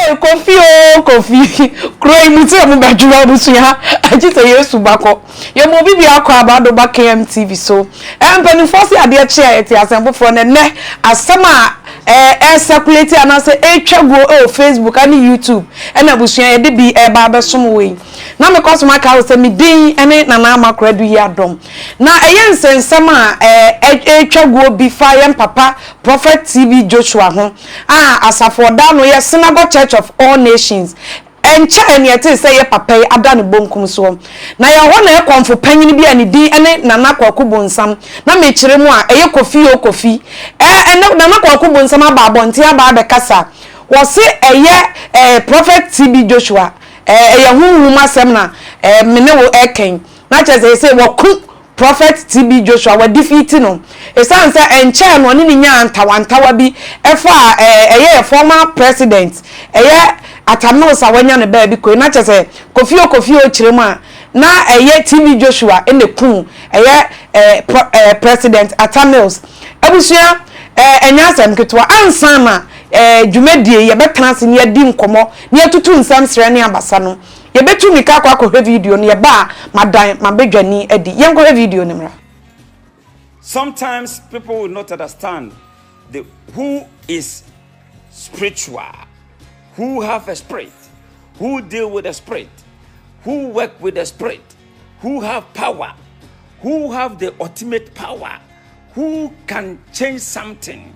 Hey, Kofi o Kofi kuro yi mu tí a mo bá dwuma abusua agye sɛ Yesu ba kɔ yɛ mo bibi akɔ abado ba KMTV so ɛ mpanimfoɔ si adeɛ kye a yɛte asɛm foforɔ na nnɛ asɛm a ɛ ɛ circulate anaasɛ ɛtwa guo ɛwɔ Facebook ɛne YouTube ɛna abusua yɛde bi ɛba abɛsom wɔ yi. na mekɔ so makae wo sɛ me din ne Nana Amakora Aduyi Adom. Na ɛyɛ nsɛnsɛm a ɛretwa guo bi fa yɛn papa Prophet TB Joshua ho a asafo a ɔda ano yɛ Synagogue Church of All Nations. Ɛnkyɛe na yɛtee sɛ yɛn papa yi ada ne bonkum soɔ. Na yɛwɔ hɔ na yɛn kɔmfo panyin bi a ne din ne Nana Kwaku Bonsam, na mekyerɛ mu a, ɛyɛ Kofi o Kofi. Ɛɛ, ɛnnɛ Nana Kwaku Bonsam aba abɔnten aba abɛkasa. Wɔse ɛyɛ ɛɛ Prophet TB Joshua. Ɛyɛ honhom asɛm na me ne wo ɛkɛn na kyerɛ sɛ sesei wɔko Prophet TB Joshua wa defeati no ɛsiane sɛ ɛnkyɛɛ no ɔne no nyaa ntawantawa bi ɛfaa ɛyɛ yɛ former president ɛyɛ Atta Mills a wanya no baabi kɔi na kyerɛ sɛ Kofi o Kofi o kyerɛ mu a na ɛyɛ TB Joshua na ɛkuu ɛyɛ president Atta Mills abusua ɛnyɛ asɛm ketewa ansa na dwumadie yɛbɛtena ase na yɛadi nkɔmɔ na yɛatutu nsɛm serɛ ne abasa no, yɛbɛtu mmirika akɔ akɔhwɛ video no, yɛba a, madan m'abadwani adi. Yɛnkɔhwɛ video no mmra. Sometimes people will not understand the who is spiritual, who have a spirit, who deal with the spirit, who work with the spirit, who have power, who have the ultimate power, who can change something.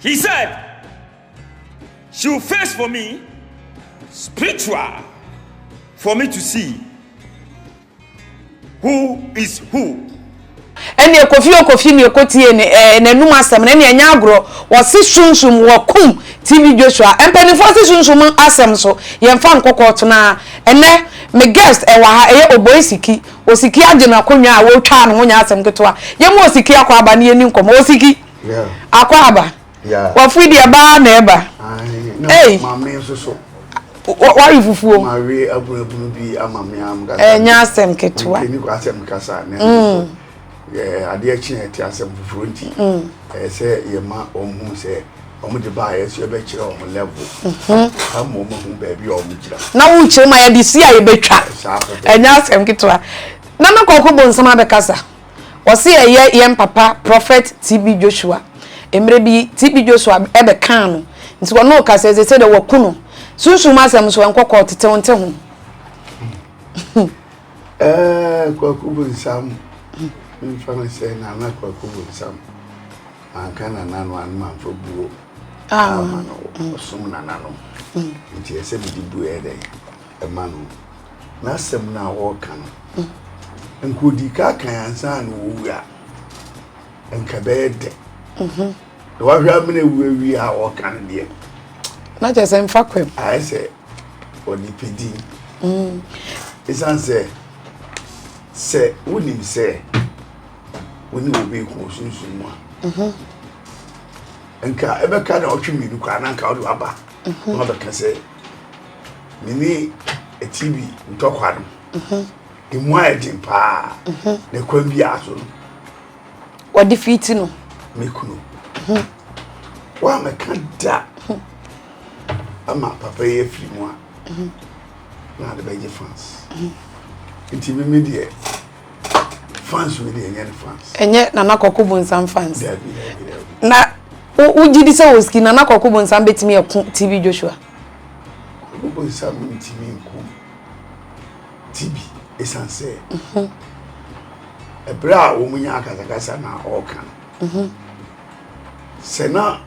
He said she will face for me spiritual for me to see who is who. ɛneɛ kofi o kofi neɛ kotie ne ɛɛ n'anum asɛm no ɛneɛ nyɛ agorɔ wɔse sunsum wɔkum tv joshua mpanimfoɔ se sunsum asɛm so yɛmfa nkɔkɔ tenaa ɛnɛ me guest ɛwɔ ha ɛyɛ oboi siki osiki agye n'akonnwa a wɔtwaa no ho nyɛ asɛm ketewa yɛma osiki akɔ aba ne yɛni nkɔmmɔ osiki akɔ aba wafiri deɛ baa na ɛba ei wari fufuo ɛnyɛ asɛm ketewa mm. adeɛ kye ɛte asɛm foforɔ nti mm. ɛyɛ sɛ yɛma ɔmu sɛ ɔmo de ba ayɛ so yɛbɛkyerɛ ɔmo level mhm. ama ɔmo hu baabi a ɔmo gyina na wokyerɛ mu a yɛde si a yɛbɛtwa ɛnyɛ asɛm ketewa na na kɔkɔ bɔ nsɛm abɛkasa Wɔse ɛyɛ yɛn papa Prophet TB Joshua. Mmerɛ bi TB Joshua bɛkaa no nti ɔno ɔka sɛ sese deɛ wɔaku no. Sunsum mu asɛm nso ɛnkɔ kɔɔ tete wo nte ho. Ɛɛ Kwaku Bonsam mfa no sɛ Nana Kwaku Bonsam anka Nana no ano amfa buo ah. ama no ɔsom Nana no nti ɛsɛ mede buo yɛ dɛn. ma no. N'asɛm no a ɔreka no, nka ɔdii ka kan ansa na ɔwu a, nka ɛbɛyɛ dɛ. Mhm. Na wahwɛ amena wu awie a ɔreka no deɛ. Na kyerɛ sɛ mfa kwam. Ayɛ sɛ ɔde pɛ din. Mm. Ɛsiane sɛ sɛ wonim sɛ wo ne obi ko ɔsunsum mu a mhm. nka ɛbɛka na ɔtwe mmienu koraa na nka wode waba mhm. na wabɛka sɛ mene TV ntɔkwa no ɛmu mhm. ayɛ den paa mhm. na kwan bi aso no wɔde fiti no me kunu mhm. wa mɛka da ama papa yi afiri mu a na ade bɛgye fans nti meme deɛ fans no deɛ ɛnyɛ ne fans. ɛnyɛ nana kɔkɔ bonsam fans. dabi dabi dabi. na wogye di sɛ oski nana kɔkɔ bonsam betumi ɛko tv joshua. kɔkɔ bonsam ntumi nko tv esan sɛ. Mhm. ɛbrɛ a wɔn nyɛ akasakasa na ɔɔka no. Mhm. sɛ na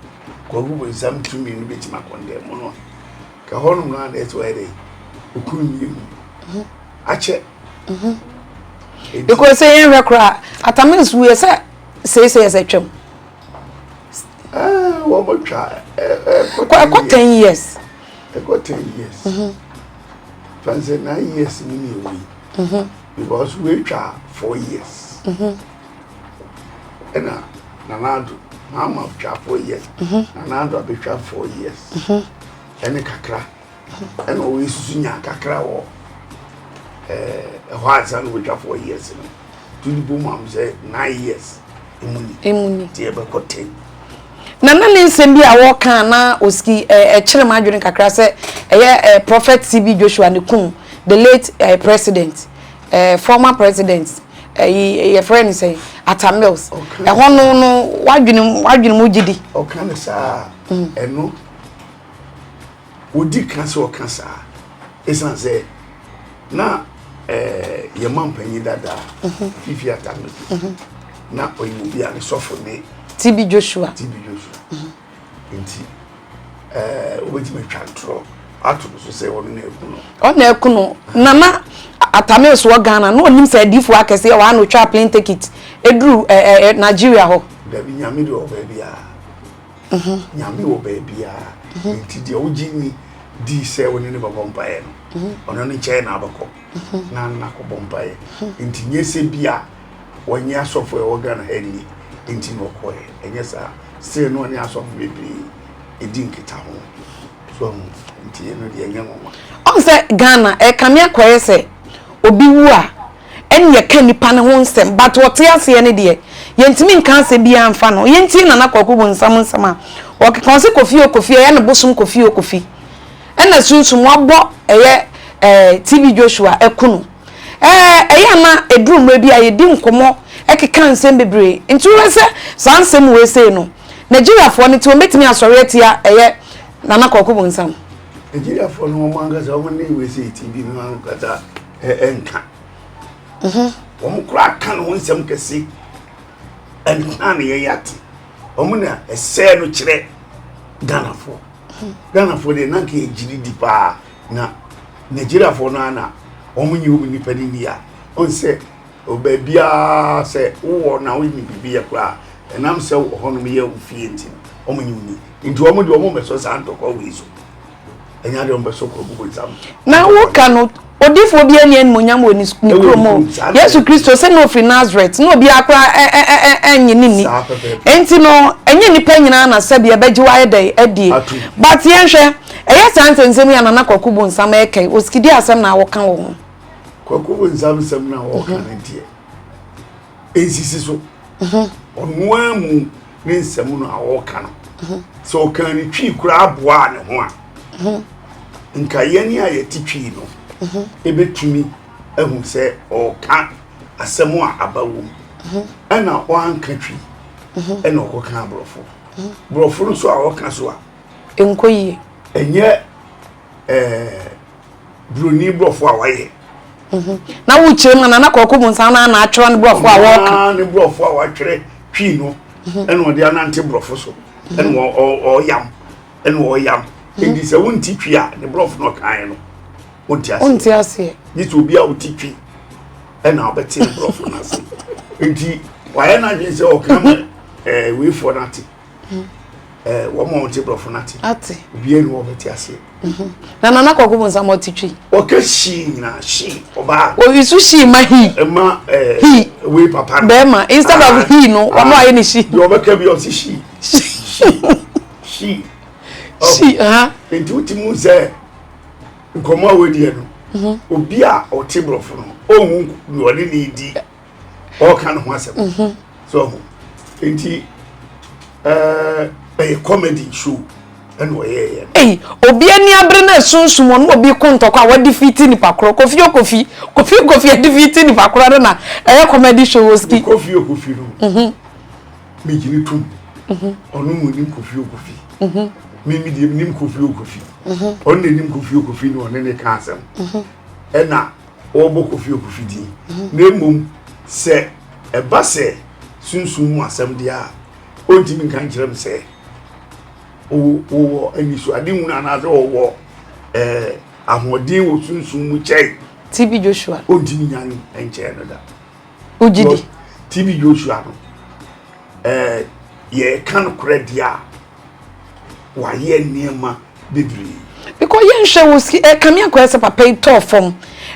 kɔkɔ bonsam tumi no betumi akɔndɛ mu no a ka hɔnom no a na ɛte wɔyɛ dɛ okunu mmienu mhm. akyɛ. mhm. because sɛ yɛnhwɛ koraa atamis wuɛ sɛ seesei ɛsɛ twam eh, wɔmɔtwa eh, eh, ɛkɔ 10 years ɛkɔ 10 years mhm. fan sɛ 9 years ne ne ɛwɔ yi mhm. because woatwa 4 years ɛna nanaado maama twa 4 years nanaado abɛtwa 4 years ɛne kakra Ɛna ɔwɔ esusu nya kakra wɔ ɛɛ ɛhɔ ansa na wɔatwa four years no to ne bom am sɛ nine years emu ni emu ni te ɛbɛkɔ ten. na na ne nsɛm bi a wɔka na osiki ɛɛ ɛkyerɛ mu adwene kakra sɛ ɛyɛ ɛɛ prophet cb joshua ne kum the late ɛɛ president ɛɛ former president ɛyi yɛfrɛ ne sɛ atamils ɛhɔ no no wadwene wadwene mu gyidi. ɔka ne saa ɛno Odi kan sɛ ɔka saa esiane sɛ na ɛɛ yɛn mampanyin dada fifi atame na ɔyɛ obi a ne sɔfo ne TB Joshua TB Joshua nti ɛɛ wobɛtumi atwa ntorɔ ato no so sɛ ɔno na ɛku no ɔna ɛku no nana atame so wɔ Ghana na ɔnim sɛ adifo akɛse yɛ wɔano twa plane ticket ɛduru ɛɛ Nigeria hɔ dabi nyame de ɔbaa bi a Nyame wɔ baabiara, enti deɛ wogye ni di sɛ wo ne no bɛbɔ mpaeɛ no, ɔno ne nkyɛn na abɛkɔ na no nakɔbɔ mpaeɛ. Enti nyɛ sɛ bi a wɔnyɛ asɔfo a ɛwɔ Ghana ha nni enti na ɔkɔɛ, ɛnyɛ saa. Still na ɔne asɔfo bebree di nkitaho. So ahu nti ɛno deɛ ɛnyɛ nwoma. Ɔn sɛ Ghana ɛkame akɔyɛ sɛ obi wu a ɛne yɛka nipa no ho nsɛm but ɔte aseɛ no deɛ yɛntumi nka asɛm biara mfa no ho. Yɛntie Nana Kwaku Bonsam nsɛm a ɔkeka ɔse Kofi o Kofi ɛyɛ ne bosom Kofi o Kofi ɛna sunsum wabɔ ɛyɛ ɛɛ TB Joshua aku no. ɛyɛ a na ɛduru mmerɛ bi a yɛdi nkɔmmɔ keka nsɛm bebree nti wohwɛ sɛ saa nsɛm wei sei no Nigeriafoɔ no nti wɔn bɛtumi asɔre atia ɛyɛ Nana Kwaku Bonsam. Nigeriafoɔ no wɔn ankasa wɔn ne wei sei TV no ankasa ɛnka mhm. wɔn kora ka no wɔn nsɛm kɛse ɛnka no yɛyɛ ate wɔn na ɛsɛɛ no kyerɛ Ghanafoɔ mhm. Ghanafoɔ deɛ nanka yɛgyiri di paa na nigeriafoɔ no ara na wɔn nyi wɔn nipa no ni a wɔn sɛ baabiara sɛ wowɔ na wɔn nyi biribi yɛ koraa ɛnam sɛ wɔ hɔ nom yɛ ofie nti no wɔn nyi wɔn ni nti wɔn de wɔn bɛsɔ saa ntɔkwa wei so ɛnya de wɔn bɛsɔ kɔ gugu nsam. na woka no odifoɔ bi ani animonyam wɔ ne kurom o yesu kristo sɛ na ofiri nazareth na obi akora ɛnyɛ ne ni nti no ɛnyɛ nipa nyinaa na sɛbi ɛbɛgye wayɛ dɛ adie but yɛnhwɛ. Ɛyɛ saa nsɛnsɛm yi a Nana Kwaku Bonsam reka yi, Osikidi asɛm na wɔka wɔ ho. Kwaku Bonsam nsɛm no a wɔka no deɛ, ɛnsisi so. Ɔno ara mu ne nsɛm no a wɔka no. Sɛ ɔkaa ne twi koraa boaa ne ho a, nka yɛn a yɛte twi no ɛbɛtumi ahu sɛ ɔreka asɛm a aba wɔ mu. Ɛna ɔanka twi, ɛna ɔkɔka aborɔfo. Borɔfo no nso a ɔka so a, ɛnkɔ yie. ɛnyɛ ɛɛ buroni borɔfo a wayɛ. Mhm. na wokyerɛ mu nana kɔkɔ mu nsa na na atwerɛ ne borɔfo a wɔka ne borɔfo a watwerɛ twii no mhm. ɛna ɔde anante borɔfo so mhm. ɛna ɔyam ɛna ɔyam ɛdi sɛ wonti twi a ne borɔfo no ɔkaeɛ no wonti aseɛ gye sɛ obi a woti twi ɛna ɔbɛte ne borɔfo no ase nti wayɛ no adwene sɛ ɔka ma weifoɔ no ate ɛɛ wɔn a wɔte borɔfo no ate ate obiara ni wɔn bɛte aseɛ mhm. na nana kɔkɔ bɔ nsɛm ɔte twi ɔka hyii nyinaa hyii ɔbaa oyi so hyii ma hi ɛma ɛɛ hi wei papa no bɛrima instead of ah, hi no ɔno ah. ayɛ ne shi deɛ ɔbɛka bi ɔte shi shi shi shi ha nti o ti mu sɛ nkɔmɔ a wɔadiɛ no mhm. obi a ɔte borɔfo no ɔhu deɛ ɔne ne di ɔka ne ho asɛm mhm. so ɔho nti ɛɛ ɛyɛ comedy show ɛna ɔyɛɛyɛ no. obi ani abere na esunsum ɔno obi ko ntɔkwa a wɔde fi ti nipa korɔ kofi okofi kofi okofi ɛde fi ti nipa korɔ no na ɛyɛ comedy show oski. kofi okofi no mhm. meji ne tum mhm. ɔno mu nim kofi okofi mimi deɛ nim kofi okofi ɔno na nim kofi okofi na ɔne ne ka asɛm ɛna. wɔbɔ kofi okofi din na mmom sɛ ɛba sɛ sunsum mu asɛm deɛ a ɔntumi nka nkyerɛ m sɛ wowɔ anisoade nwunu anaasɛ wɔwɔ eh, ahoɔden wɔ sunsum mu kyɛe tb joshua ɔntumi nya no nkyɛɛ no da wogye di tb joshua no eh, yɛka nokorɛ deɛ a wayɛ nneɛma bebree. Because yɛn hwɛ wɔ ski ɛka mi akɔyɛ sɛ papa yi tɔɔ fam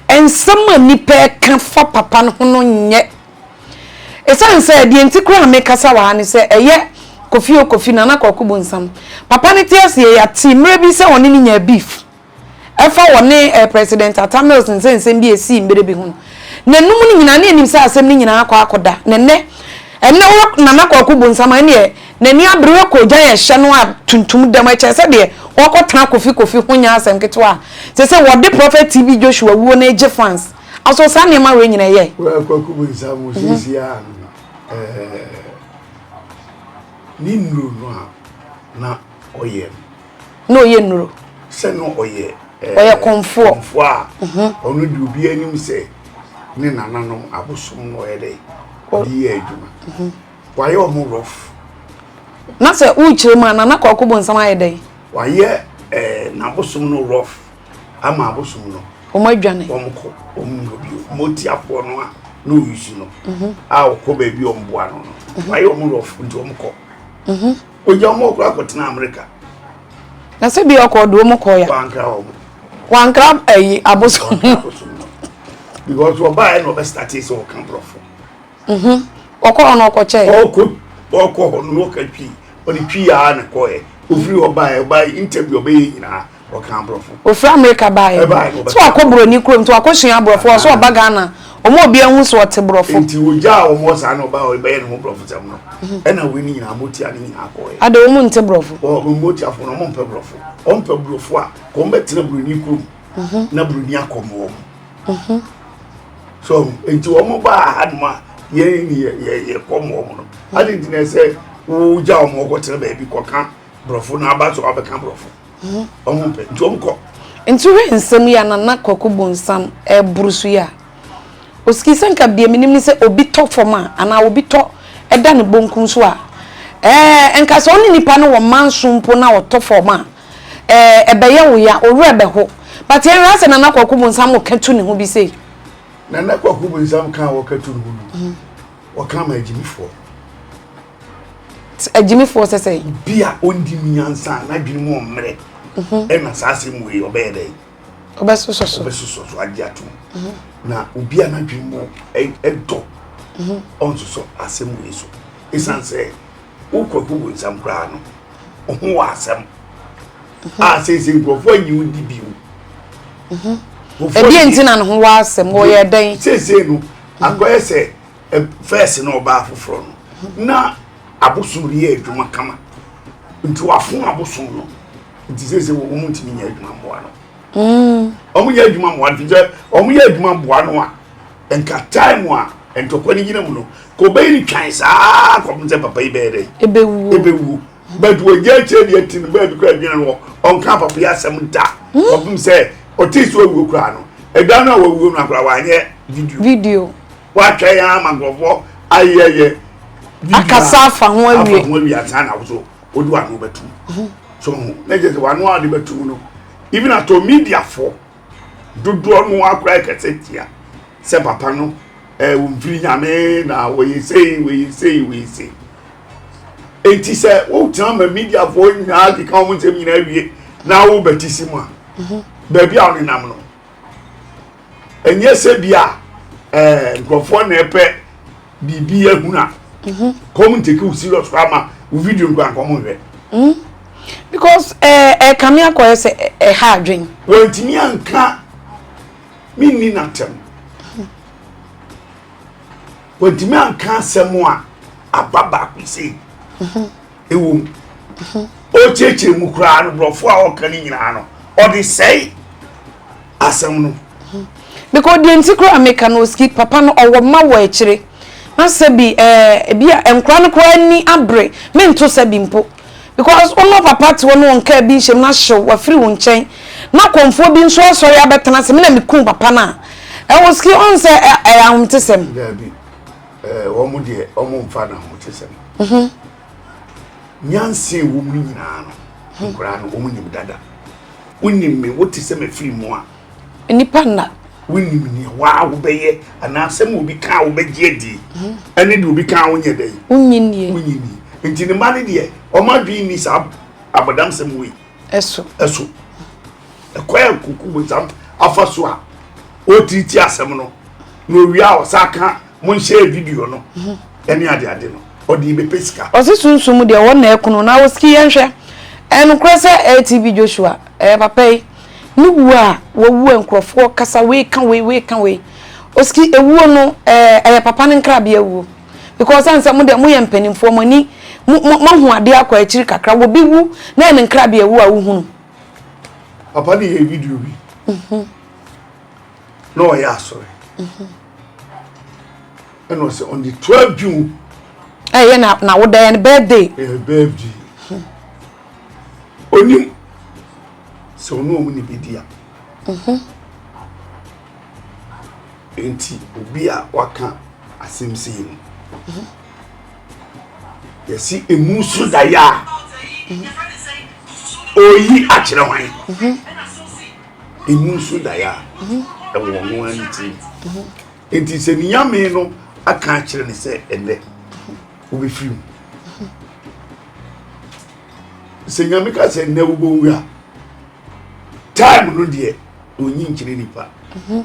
nsɛm a nipa ɛka fa papa no ho no nyɛ esan sɛ deɛ nti kura a mi kasa wɔ ha ne sɛ ɛyɛ kofi o kofi nana kɔkɔ bu nsam papa ne te aseɛ yɛate mmerɛ bi sɛ ɔne ne nya beef ɛfa wɔ ne ɛ president ata mills nsɛ nsɛm bi esii mbere bi ho no na num ne nyinaa ne enim sɛ asɛm ne nyinaa akɔ akɔ da na nɛ ɛnɛ wɔ nana kɔkɔ bu nsam ɛne ɛ. N'ani abere kɔ ogya yɛ hyɛ no a tuntum dam ɛkyɛ sɛ deɛ ɔɔkɔ tena kofi kofi ho nyɛ asɛm ketewa a te sɛ wɔde prɔfɛt TB Joshua wuo no egye fans aso saa nneɛma wei nyina ɛyɛ. Wo a kwaku bu nsa mu siesie a no na ɛɛ ne nnuro no a na ɔyɛ no. Na ɔyɛ nnuro. Sɛ na ɔyɛ ɛɛ ɔyɛ kɔnfoɔ kɔnfoɔ a ɔno di obi anim sɛ ne nananom abosom na ɔyɛ dɛ ɔde yɛ adwuma Wayɛ ɔmo rough. Na sɛ wokyerɛ mu a Nana Kwaku Bonsam ayɛ dɛn? Wayɛ eh, n'abosom no rough ama abosom no. Wɔn adwane. Wɔn kɔ wɔn nnuro bio. Motiafoɔ no a na ɔyusu no mhm. a ɔkɔ baabi wɔn boa no no. Mhm. Wayɛ wɔn rough nti wɔn kɔ. Mhm. Ogya wɔn ɔkora akɔtena Amerika. Na sɛ bi ɔkɔ ɔde wɔn kɔ ya. Wankra wɔn. Wankra ayi abosom. Wankra abosom no. Because ɔbaa yɛ na ɔbɛ start sɛ ɔka borɔfo. Mhm. Ɔkɔɔ hɔ na ɔkɔkyɛe. Ɔɔkɔ, ɔɔkɔ hɔ no na ɔka Twi. Ɔde Twi ara na ɛkɔeɛ. Ɔfiri hɔ baeɛ, ɔbaeɛ, interview a ɔbɛyɛ nyinaa, ɔkaa Aborɔfo. Ɔfiri Amerika baeɛ. Ɛbaeɛ na ɔbɛkaa Aborɔfo. Sɛ wakɔ Buroni kurom nti wakɔsua Aborɔfo, ɔwɔ sɛ ɔba Ghana. Wɔn a obiara hu sɛ ɔte Borɔfo. Enti ɔgyaa wɔn hɔ saa na ɔbaa hɔ rebɛyɛ ne ho Borɔfosɛm no. Ɛna wei no nyinaa, motia no nyinaa kɔeɛ. Adɛn, wɔn nte Borɔfo? Wɔn, motiafoɔ no, wɔmpɛ Borɔfo. Wɔmpɛ Borɔfo a, nka wɔmmɛtena Buroni kurom. mhm. na buroni akɔm wɔn mhm. so nti wɔn ba ahanom a yɛn ni yɛ yɛ kɔm wɔn no adi nti na ɛsɛ wogya wɔn kɔtena baabi kɔka borɔfo na aba so abɛka borɔfo mhm. wɔn pɛ nti wɔn kɔ. nti hwɛ nsɛm yi a nana kɔkɔ bonsam ɛboro so yi a osiki sɛ nka bia menim ne sɛ obi tɔ fam a anaa obi tɔ ɛda ne bonkum so a ɛɛ nka sɛ ɔne nipa no wɔ manso mpo na ɔtɔ fam a eh ɛbɛyɛ wo ya wo werɛ bɛho but yɛn hwɛ asɛ nana kwaku bonsam mo ka tu ne ho bi sei nana kwaku bonsam ka wɔ ka tu ne ho no mm. wɔka ma agyimifoɔ agyimifoɔ sɛ sɛ obi a ɔndi mu nyansa a n'adwene mu ɔmmerɛ mhm. ɛna saa asɛm wei ɔbɛyɛ dɛ ɔbɛsosɔ so ɔbɛsosɔ so agye atom mhm. na obi a n'adwene mu ɛdɔ mhm. ɔnsosɔ asɛm wei so ɛsiane sɛ wo nkurɔfo bu nsɛm koraa no ho wɔ asɛm mhm. a sɛsɛ nkurɔfo anyi wo di bio mhm. ɛdeɛ nti na ne ho wɔ asɛm wɔyɛ dɛn sɛsɛ no mhm. akɔyɛ sɛ fɛs no ɔbaa foforɔ no na abosom de yɛ adwuma kama nti wafo abosom no nti sɛsɛ wɔ wɔn ntumi nyɛ adwuma mmoa no mm. wɔn yɛ adwuma mmoa nti sɛ wɔn yɛ adwuma mmoa no a Nka time a ntɔkwa no gyina mu no, Cobain twan saa ara kɔpem sɛ papa yi bɛyɛ dɛn? Ebewuo. Ebewuo. But wagya akyire deɛ ti no, baabi koraa adwene no wɔ, ɔnkaa papa yi asɛm da kɔpem sɛ ɔtee sɛ wawuo koraa no. Ɛda no a wawuo no koraa wanyɛ video. Video. Watwɛn ara ma nkurɔfoɔ ayɛyɛ video a Akasa afa ho afa awie. ho awie ansa na wo so wode w'ano bɛtom. So ho? Na kyerɛ sɛ w'ano a wode bɛtom no, even atɔ mediafoɔ dodoɔ no akora ɛkɛsɛ tia sɛ papa no ɛɛ eh, mfiri nyame na wɔyɛ sei wɔyɛ sei wɔyɛ sei eti sɛ wotena ma mediafoɔ nyinaa keka wɔn nsɛm nyinaa wie na wobɛti si mu a mhm. baabi a wɔnenam no ɛnyɛ sɛ bi a ɛɛ eh, nkurɔfoɔ na ɛpɛ. biribi ahunu a mhm. kɔm ntake wo serious koraa ma wo video no koraa nkɔm nhwɛ mhm. because eh, eh, ɛkame akɔyɛ sɛ ɛha eh, adwen wɔntumi anka menni natɛm mhm. wɔntumi anka asɛm a aba baako sei ɛwɔ mu ɔkyerɛkyerɛ mu koraa no borɔfo a ɔka no nyinaa no ɔde sɛe asɛm no because deɛ nti koraa meka no oski papa no ɔwɔ mma wɔ akyire na sɛ bi ɛɛ ebi a nkora no koraa ni abere mento sɛ bi mpo because ɔno papa te hɔ no wɔn kaa bi nhyɛm na hyew wafiri wɔn nkyɛn na kɔnfoɔ bi nso asɔre abɛtena sɛ me na mekun papa no a ɛwɔ ski ɔn sɛ ɛyɛ ahomte sɛm. Eh, wɔn deɛ wɔn mfa na ho te sɛm. Mhm. Nyansa ɛwɔ mu nyinaa no, mhm. nkwadaa no wɔn nim dada. Wonim me, wote sɛ mefiri mu a. Nnipa nna. Wonim nea waa wobɛyɛ anaa sɛ ma obi kaa wobɛgye adi. Mhm. Ɛne deɛ obi kaa wonyɛ dɛ. Wonyi nie. Wonyi nie. Nti ne mma no deɛ wɔn adwene nni saa abɔdamsɛm wei. ɛso ɛso ɛkwan a nkunkum nsam afa so a ɔretiriti asɛm no na owia a ɔsa ka mo nhyɛ video no mhm. ɛne ade ade no ɔde bɛpɛ sika ɔse sunsum deɛ wɔn na ɛkono na wɔsiki yɛnhwɛ ɛnokorɛ sɛ atv joshua ɛyɛ papa yi ne wuo a wɔwu a nkurɔfoɔ kasa wei ka wei wei ka wei ɔsiki ewuo no ɛyɛ papa no nkrabea wuo because ɔsan sɛ mo deɛ mo yɛ mpanimfoɔ mo ani mo mo mo ahu adeɛ akɔ akyiri kakra wɔ bi wu na ɛne nkrabi awu a wohunu. papa de yɛ video bi mhm. na ɔyɛ asɔre mhm. ɛna ɔsɛ on the twelve june. ɛyɛ eh, na na woda yɛ no birthday. ɛyɛ eh, birthday mhm. onim sɛ ɔno ɔmo ne bi di a. Nti obi a waka asɛm sei no yɛsi emu so daeɛ a oyi akyerɛ hwan emu so daeɛ a ɛwɔ ɔno ara ne ti nti sɛ ne nyame no aka akyerɛ ne sɛ ɛnɛ wobɛfiri mu sɛ nyame ka sɛ ɛnɛ wobɛwu a time no deɛ ɔnyi nkyerɛ nipa mhm.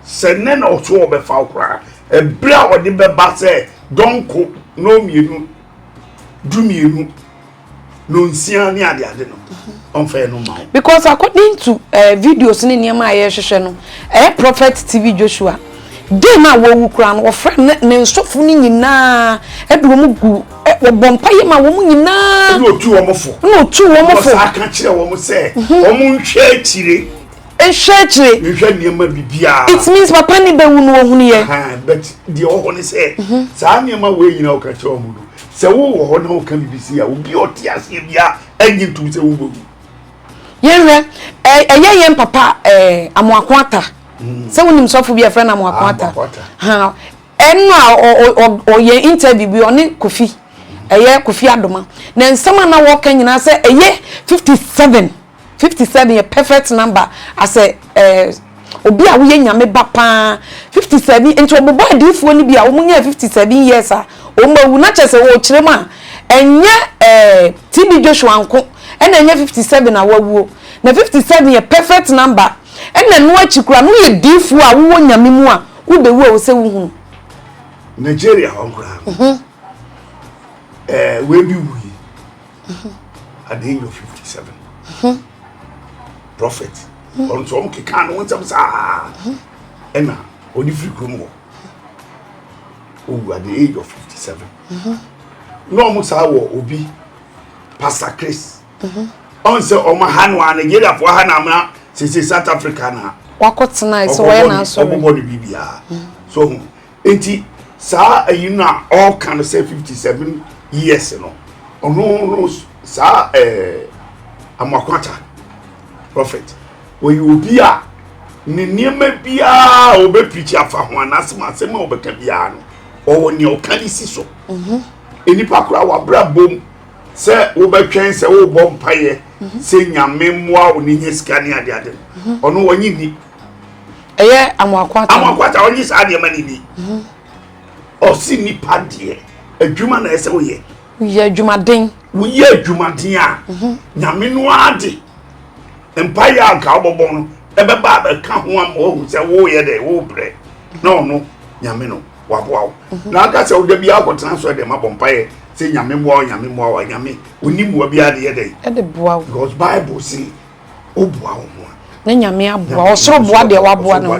sɛ ne na ɔso ɔbɛfa wo koraa ɛberɛ a ɔde bɛba sɛ dɔnko na ɔmmienu dumienu na ɔnsia ne adeade no mhm. ɔmfɛɛ no ma wo because according to uh, videos ne nneɛma a yɛhwehwɛ no ɛyɛ eh, prophet tv joshua den no a wɔwu koraa no wɔfrɛ ne nsɔfo no nyinaa ɛde wɔn gu Ɛ, wɔbɔ mpaeɛ ma wɔn nyinaa. Ɛna ɔtu wɔn fo. Ɛna ɔtu wɔn fo. Wɔsaa ka kyerɛ wɔn sɛ. Mhm. Wɔn nhwɛ akyire. Nhwɛ akyire. Nhwɛ nneɛma bibiara. It means papa ne bɛwu no wɔhunu yɛ. But deɛ ɔwɔ hɔ ne sɛ. Mhm. Saa nneɛma wei nyinaa ɔka kyerɛ wɔn no sɛ wowɔ hɔ na woka biribi si a obi ɔte aseɛ bia ɛnye ntom sɛ wobɛwu yɛnhwɛ ɛyɛ yɛn papa amoako ata mm. sɛ wonim sɔfo bi a ɛfrɛ no amoako ata Ɛna ɔyɛ interview bi ɔne Kofi ɛyɛ Kofi Adoma na nsɛm a na wɔka nyinaa sɛ ɛyɛ fifty seven fifty seven yɛ perfect number as a obi a woyɛ Nyame ba paa fifty seven nti ɔbobɔ adiifoɔ no bi a wɔn nyɛɛ fifty seven years a wɔn awu na kyɛ sɛ ɔkyerɛ mu a ɛnyɛ TB Joshua nko ɛna ɛnyɛ fifty seven a wawuo na fifty seven yɛ perfect number ɛna ɛno akyi koraa no woyɛ diifoɔ a wowɔ Nyame mu a Wo bɛ wu a wo sɛ wo hunu. Nigeria hɔ nkoraa no. Mhm. Ɛɛ eh, wei bi wu yi. Mhm. At the age of fifty seven. Mhm. Prophet. Wɔn nso wɔn keka no wɔn nsɛm saa. Ɛna wɔde firi kurom hɔ. Owu at the age of fifty seven. Na wɔn saa wɔ obi Pastor Chris. Ɔnsɛ ɔmo ha no a Nigeria foɔ ha no amena sese South Africa na. Wakɔ tena ɛsɛ wɔyɛ na asɔre. Ɔbɔbɔ no bibia so ho nti saa ɛyi no a ɔka no sɛ fifty seven years no ɔno no saa ɛɛ amakwata prophet wɔyɛ obi a ne nneɛma biara a ɔbɛ pirikyi afa ho anasɛm asɛm a ɔbɛka biara no ɔwɔ nea ɔka ne si so nnipa koraa wabra bom. Sɛ wobɛtwɛn sɛ wobɔ mpaeɛ mhm. sɛ nyame mmoa wo ne nya sika ne adeade no mhm. ɔno wɔnye ni ɛyɛ amoakwata amoakwata ɔnye saa deɛ ma ne ni mhm. ɔse nipa deɛ adwuma na ɛsɛ woyɛ woyɛ adwumaden woyɛ adwumaden a nyame no ade mpaeɛ a nka wobɔbɔ no ɛbɛba abɛka ho ama wahu sɛ woyɛ dɛ wobrɛ na ɔno nyame no waboa wo mhm. na aka sɛ woda bi akɔtena sɔre dɛm abɔ mpaeɛ sɛ nyame mmoa wo nyame mmoa wo nyame ɔni mmoa bi ade yɛ dɛn ɛde boa wo because bible se woboa wo ho a ne nyame aboa ɔsoro boa deɛ waboa no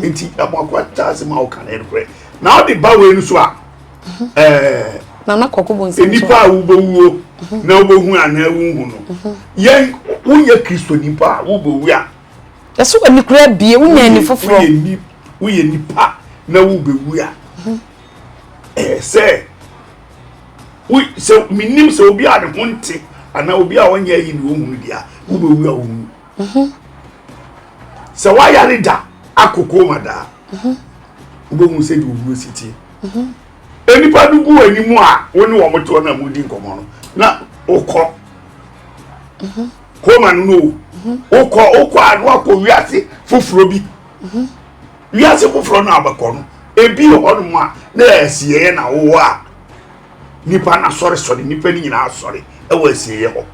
nti amoakoa taa se ma woka no ɛnokorɛ na wode ba wei no so a mhm. eh, nana kɔkɔ bɔ nsɛm nipa a wobɛwuo mhm. na wobɛhu anaa wonhu no yɛn woyɛ kristo nipa a wobɛwu a ɛso wɔ nikura abie wonya ani foforɔ woyɛ nipa na wobɛwu a mhm. ɛyɛ sɛ sɛ menim sɛ obi a ne ho nte anaa obi a ɔnyɛ ayi ne ɔhunu deɛ a wobɛwu a wowu mhm. sɛ woayare da akoko ma daa mhm. wobɛhu sɛ deɛ owuo si tie nnipa no gu anim a wo ne wɔn toɔ na modi nkɔmmɔ no na wokɔ homa no no wokɔ wokɔ a no akɔ wiase foforɔ bi wiase foforɔ no abɛkɔ no ebi wɔ hɔnom a na asieɛ na wowɔ a nipa na sɔre sɔre nipa no nyinaa sɔre ɛwɔ asieɛ hɔ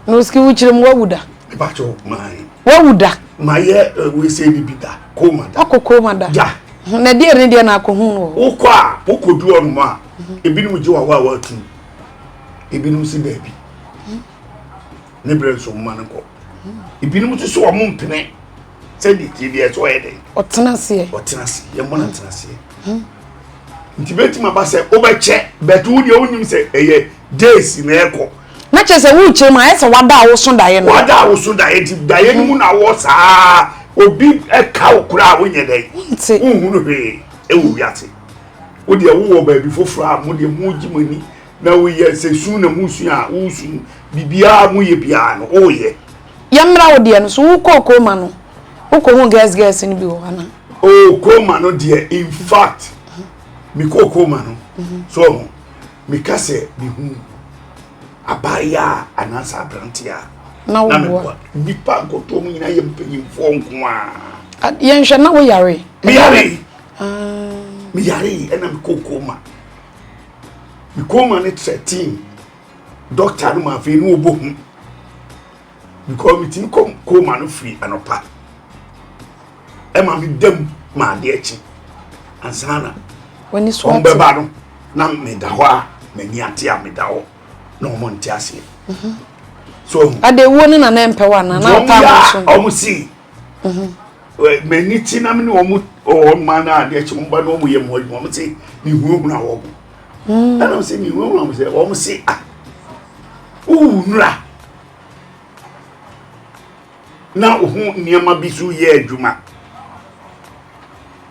na osiki wokyerɛ mu wawu da ɛbakyɛ maae wawu da mayɛ eh, wesɛ bibi da koma da akɔ koma da gya na deɛ ne deɛ na akɔ hu no wokɔ a wokɔdu ɔnom a ebinom gye wawa a watu ebinom si daabi ne berɛ nso mma no nkɔ ebinom nso so wɔn mpene sɛ de tie deɛ ɛsɛ ɔyɛ dɛ ɔtena seɛ ɔtena seɛ yɛn mɔ no ntena seɛ hmm. nti bɛtumi aba sɛ wobɛkyɛ bɛto wo deɛ wonim sɛ ɛyɛ days na ɛkɔ na kyerɛ sɛ worekyerɛ mu ayɛ sɛ wada a woso daeɛ no wada a woso daeɛ nti daeɛ no mu na wɔ saa obi ɛka wo koraa wonyɛ dɛ wonhunu hwee ɛwɔ wiase wodeɛ wowɔ baabi foforɔ a modeɛ mogye mo ani na woyɛ sɛ su na mu su a wosu biribiara mu yɛ biara no woyɛ. yɛmmra wo deɛ no so wokɔ okooma no wokɔ hu girls girls no bi wɔ hɔ ana. okooma no deɛ in fact mekɔ okooma no mhm. so ɔho meka sɛ mehu abaayɛ a anaasɛ aberante a na meboa nnipa nkɔtoɔ mu nyinaa yɛ mpanyimfoɔ nko a yɛnhwɛ na woyare meyare ah. meyare ɛna mekɔ okooma me kɔma no thirteen dɔkta no ma afei ne ɔbɔ hu because metumi kɔ kɔma no firi anɔpa ɛma me dam ma adeɛ akyi ansa na ɔmbɛba no na meda hɔ a m'ani ate a meda hɔ na ɔmo nte aseɛ mhm. so ade wuo no na na mpɛ wa na na ɔpa ahosuo ɔmo si mhm. M'ani te na me ne wɔn wɔ mmaa no a adeɛ kye wɔn ba na wɔyɛ mu adwuma wɔn se mehunahuna wɔn hmm. ɛna wɔn se mehunahuna wɔn sɛ wɔn se a ah, wowu nura na ho nneɛma bi so yɛ adwuma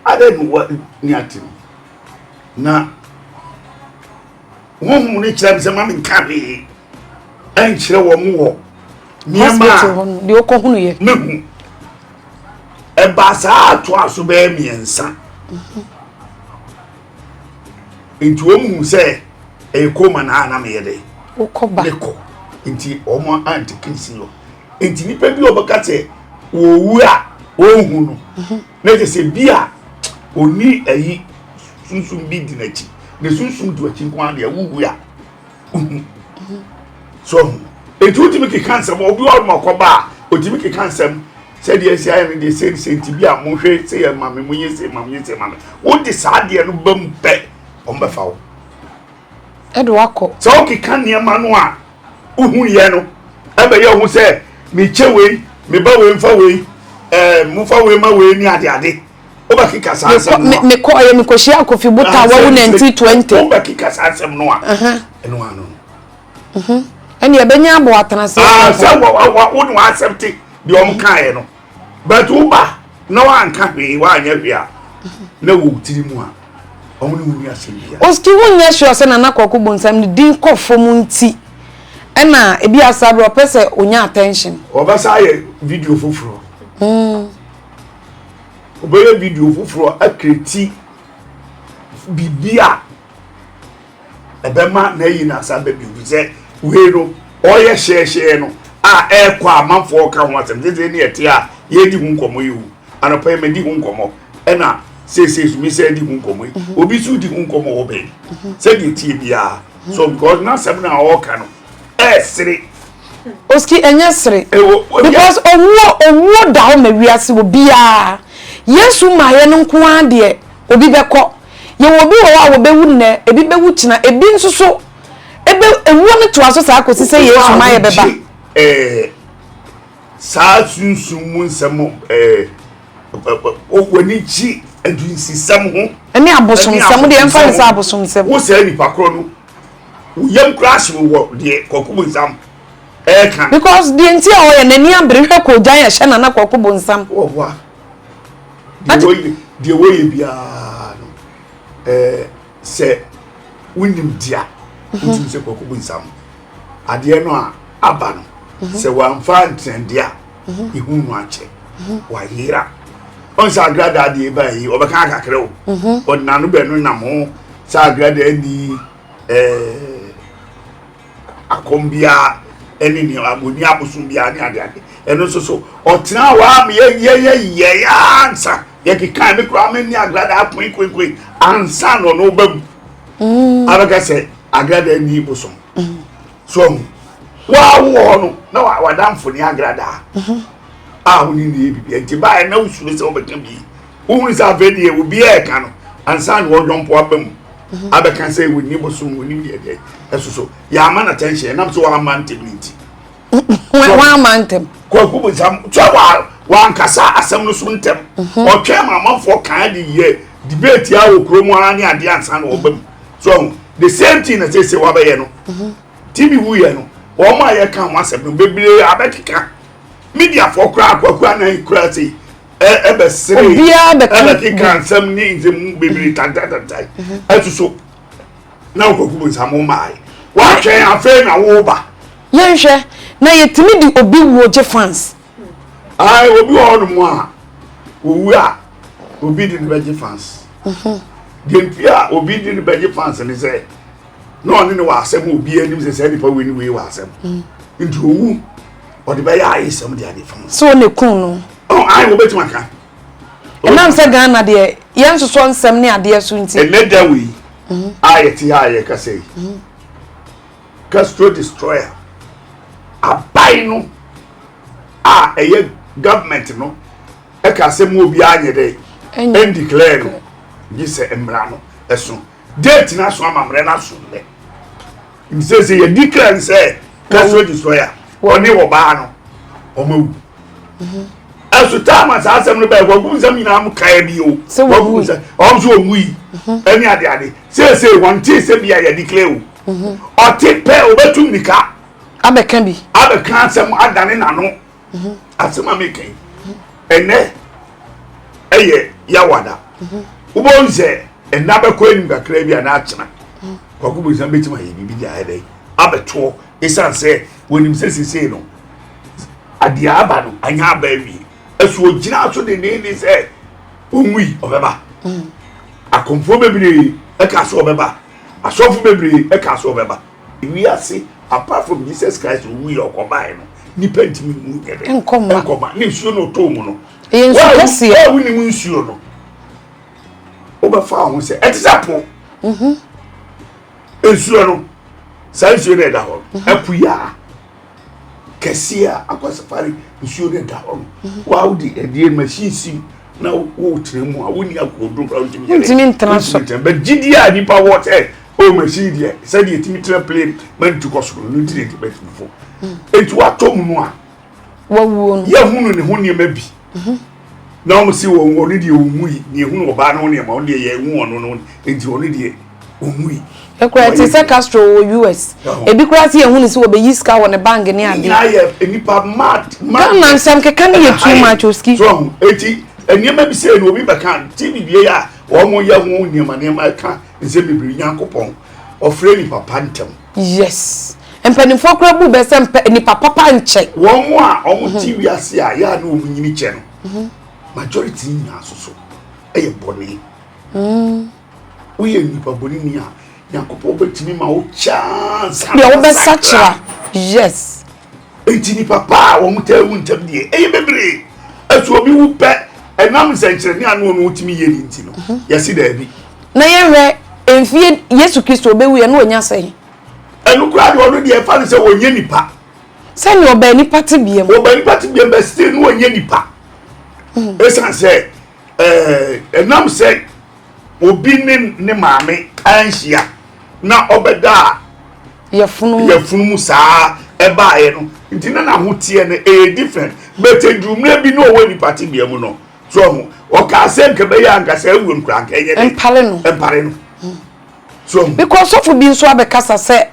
adɛ ne wɔ ne ate no na. honhom no kyerɛ me sɛ ma menka hwee ɛnkyerɛ wɔ mo wɔ nneɛma a deɛ ɔkɔhunuiɛ mehu ɛbaa saa atoa so bɛyɛ mmiɛnsa nti wɔn hu sɛ ɛyɛ kɔma na ana meyɛ dɛ wokɔba mekɔ nti wɔn ante kesi no nti nipa bi a ɔbɛka sɛ wɔwu a wɔnhu no Na kyerɛ sɛ bi a ɔni ayi sunsum bi di n'akyi ne sunsum du akyi nko ara deɛ wowu a wohu so ho nti wotumi keka nsɛm obi wɔ ma ɔkɔba a otumi keka nsɛm sɛdeɛ asi ayɛ no deɛ sɛ ne sɛ nti bi a monhwɛ sɛ yɛ ma me monyɛ sɛ ma monyɛ sɛ ma me wode saa deɛ no ba mu pɛ ɔmbɛfa wo ɛde wakɔ sɛ wokeka nneɛma no a Wohu yɛ no ɛbɛ yɛ ɔho sɛ me kyɛ wei me ba wei mfa wei ɛɛ mo fa wei ma wei ne ade ade wobɛ keka saa nsɛm no a. Me kɔ ɔyɛ me kɔ hyia kofi bo ta wawu na nti twenty. Wobɛ keka saa nsɛm no a ɛno ano no. Ɛne ɛbɛ nya abɔ atena se. Aa sɛ wɔ wɔ wɔ wone wɔ asɛm te deɛ ɔmo kaa yɛ no. but wo ba na wanka hwee wanyɛ hwee a na wɔ tiri mu a ɔmo ne wo ni asɛm bia oski wo nyɛ sure sɛ nana kɔko bonsam ne din kɔ fam nti ɛna ebi asa berɛ ɔpɛ sɛ onya attention ɔbɛsa ayɛ video foforɔ mm. ɔbɛyɛ video foforɔ akireti biribi a ɛbɛma n'ayi n'asa bɛ bio bi sɛ wei no ɔyɛ hyɛɛhyɛɛ no a ɛrekɔ a amanfoɔ ka ho asɛm sese ne ɛte a yɛredi ho nkɔmmɔ yi o anɔpa yi mɛdi ho nkɔmmɔ ɛna sese so mesɛ di ho nkɔmmɔ yi mhm. obi so di ho nkɔmmɔ wɔ bɛn mhm. sɛdeɛ tie biara mhm. so because n'asɛm no a ɔreka no ɛresere oski ɛnyɛ sere because owuo owuo da hɔ ma wiase wɔ biara yesu maa yɛ no nko ara deɛ obi bɛkɔ. Yɛwɔ obi wɔ hɔ a wɔbɛwu nnɛ, ebi bɛwu kyena, ebi nso so ebe ewuo no toa so saa kɔsi sɛ Yesu ma yɛ bɛba. Eh, saa sunsum mu nsɛm eh, w'ani gye adunsisɛm ho. Ɛne abosomsɛm deɛ ɛmfa ne sɛ abosomsɛm. Wo sɛ nipa korɔ no, wo yam koraa ahye wo wɔ deɛ kɔkɔ mu nsam ɛka. Because deɛ nti a ɔyɛ n'ani abere hwɛ kɔɔgyan ɛhyɛ nana kɔkɔ bonsam. Wɔboa. deɛ wɔyɛ biara no eh, sɛ wonim dea mhm. wotum sɛ kɔkɔ bu nsam adeɛ no a aba no mhm. sɛ wamfa ntrɛnde a ɛhu mhm. no akyɛ wayera ɔn sɛ agradaa deɛ ɛba yi ɔbɛka akakrɛ o ɔdenano bɛno nam ho sɛ agradaa ni eh, akɔm biara ɛne nea wɔnni abosom biara ne adeade ɛno nso so ɔtena hɔ a ma yɛyɛyɛyɛe ansa yɛkekae me koraa menni agrada akoe koekoe ansa na ɔno ba mu mm. abɛka sɛ agrada nni bosom mm. so ahu woa wowɔ hɔ no na wadamfo ne agradaa mm-hmm. a wone ne yɛ bibia nti baɛ na wosuro sɛ wobɛka bii Wohunu sɛ afei deɛ obiara reka no ansa na ɔyɔnko aba mu mhm. abɛka sɛ wɔnni bosom wɔnim deɛ deɛ ɛso so yɛama no attention ɛnam sɛ wɔama ntɛm no nti wɔama ntɛm kwaku bonsam sɛ wankasa asɛm no so ntɛm mhm. ɔtwɛn ma amanfoɔ kan de yɛ debate a wɔ kurom ara ne adeɛ ansa na ɔba mu so the same thing na sɛsɛ wabɛyɛ no mhm. tv wuyɛ no wɔn a yɛka ho asɛm no bebree abɛkeka mediafoɔ koraa kwaku anan koraa sei ɛbɛsere obiara bɛka ɛna keka nsɛm ne nsɛm mu bebree tantantantan ɛto so na ɔkɔku mu nsamo maae woatwɛn afei na woba yɛnhwɛ na yɛtumi de obi wuo gye fans ae obi wɔ hɔ nom a owu a obi de ne bɛgye fans deɛ nti a obi de ne bɛgye fans ne sɛ na ɔne ne wɔ asɛm a obiara anim sɛ saa nipa wei ne wei wɔ asɛm mm. nti owu ɔde bɛyɛ ayesɛm de ade fam so ne kun no ɔn ayi wɔbɛtumi aka ɛnam sɛ ghana deɛ yɛn nsosɔ nsɛm ne adeɛ so nti ɛnɛ da wei mm-hmm. a yɛte ha a yɛkasa yi mm-hmm. castro destroyer aban no a ɛyɛ government no ɛka asɛm obiara nyɛ dɛ ɛndeclare no gye sɛ mmara no ɛso Date na so amammerɛ na so nnɛ. Msese yɛ declare sɛ personal destroyer wɔne wɔ baa no wɔn awu. Mhm. Ɛso time a saa asɛm no bɛyɛ wɔn nsɛm nyinaa mu kae bi o. Sɛ wɔn wu sɛ wɔn nso wɔn wu yi mhm. ɛne ade ade sese wɔn ti sɛ bi a yɛ declare o. Mhm. Ɔte pɛ obetu mirika. Abɛka bi. Abɛka asɛm adane n'ano. mhm. asɛm a meka yi ɛnɛ ɛyɛ yawada mhm. wobɛhu sɛ ɛna bɛkɔ anim kakra bi a na akyena mhm. kwako bu nsɛm bɛtumi ayɛ biribi de ayɛ dɛ abɛtoɔ ɛsiane sɛ wɔnim sɛ sesei no adeɛ aba no anyɛ aba awie ɛso ɔgyina so dendeenden sɛ ɔnwui ɔbɛba akɔmfoɔ bebree ɛka so ɔbɛba asɔfo bebree ɛka so ɔbɛba Wiase apart from Jesus Christ owu yɛ ɔkɔ bae no nipa ntumi mu nyɛ dɛ nkɔ ma ne nsuo na ɔtɔ mu no ɛyɛ nsu kɛseɛ wɔn a wonim nsuo no wobɛfa ho sɛ ɛte sɛ po mhm. nsuo no saa nsuo no ɛda hɔ mhm. apu yɛ a kɛseɛ a akwa safari nsuo no da hɔ no waa wode ɛdeɛ machine si na wotena mu a wonni akokoduro kora wontumi wontumi ntena so but gyidie a nnipa wɔ sɛ o machine deɛ sɛdeɛ ɛtumi tena plane mantu kɔ soro no nti na ɛtumi atumi fo ɛnti watɔ mu no a wawuo no yɛhunu ne ho nneɛma bi Na wɔn se wɔn wɔn deɛ ɔnwui, na yɛhunu ɔbaa no ho nneɛma, wɔn deɛ yɛanwu wɔn no, enti wɔn deɛ ɔnwui. Ɛkura te sɛ Castro wɔ US. Ebi koraa se yɛhunu se wɔbɛyi sika wɔ ne bank ne adeɛ. Ne nyinaa yɛ nnipa mad mad. Ghana nsɛm keka no yɛ too much Oski. So ahu, enti nneɛma bi sei no obi bɛka, TV bie a wɔyɛ ho nneɛma nneɛma ɛka nsɛm bebree, Nyankopɔn ɔfrɛ nnipa pa ntɛm. Yes mpaninfoɔ koraa bu bɛ sɛ mpɛ nipa papa nkyɛ. Wɔn a wɔn ti wiase a yɛ a ne wɔn nyini kyɛ no mhm. majority nyinaa soso ɛyɛ bɔne. Mm. Woyɛ nipa bɔne ni a nyankopɔn bɛtumi ma wo chance. Deɛ wobɛsakyera yes. Enti nnipa pa a wɔtaa wu ntɛm deɛ, ɛyɛ bebree. Ɛso obi wu pɛ ɛnam nsɛnkyerɛnne a na ɔno ɔno tumi yɛ no nti no? Mhm. Yɛse daabi. Na yɛnhwɛ mfie Yesu Kristo ɔbɛwu yɛ na ɔnya sɛn? Ɛno koraa deɛ ɔno deɛ ɛfa no sɛ ɔnyɛ nipa. Sɛnea ɔbaa nipa tebea mu. Ɔbaa nipa tebea mu bɛ still na ɔnyɛ nipa. Ɛsiane mhm. sɛ ɛnam sɛ Obi ne ne maame anhyia na ɔbɛdaa yafunumu saa ɛbaeɛ no nti na n'ahoteɛ no ɛyɛ different but ɛduru mmerɛ bi na ɔwɔ nipa tebea mu no so ɔho ɔkaa sɛ nka bɛyɛ anka saa awuo no koraa nka ɛnyɛ dɛ mpare no mpare no hmm. so ɔho bikɔ sɔfo bi nso abɛkasa sɛ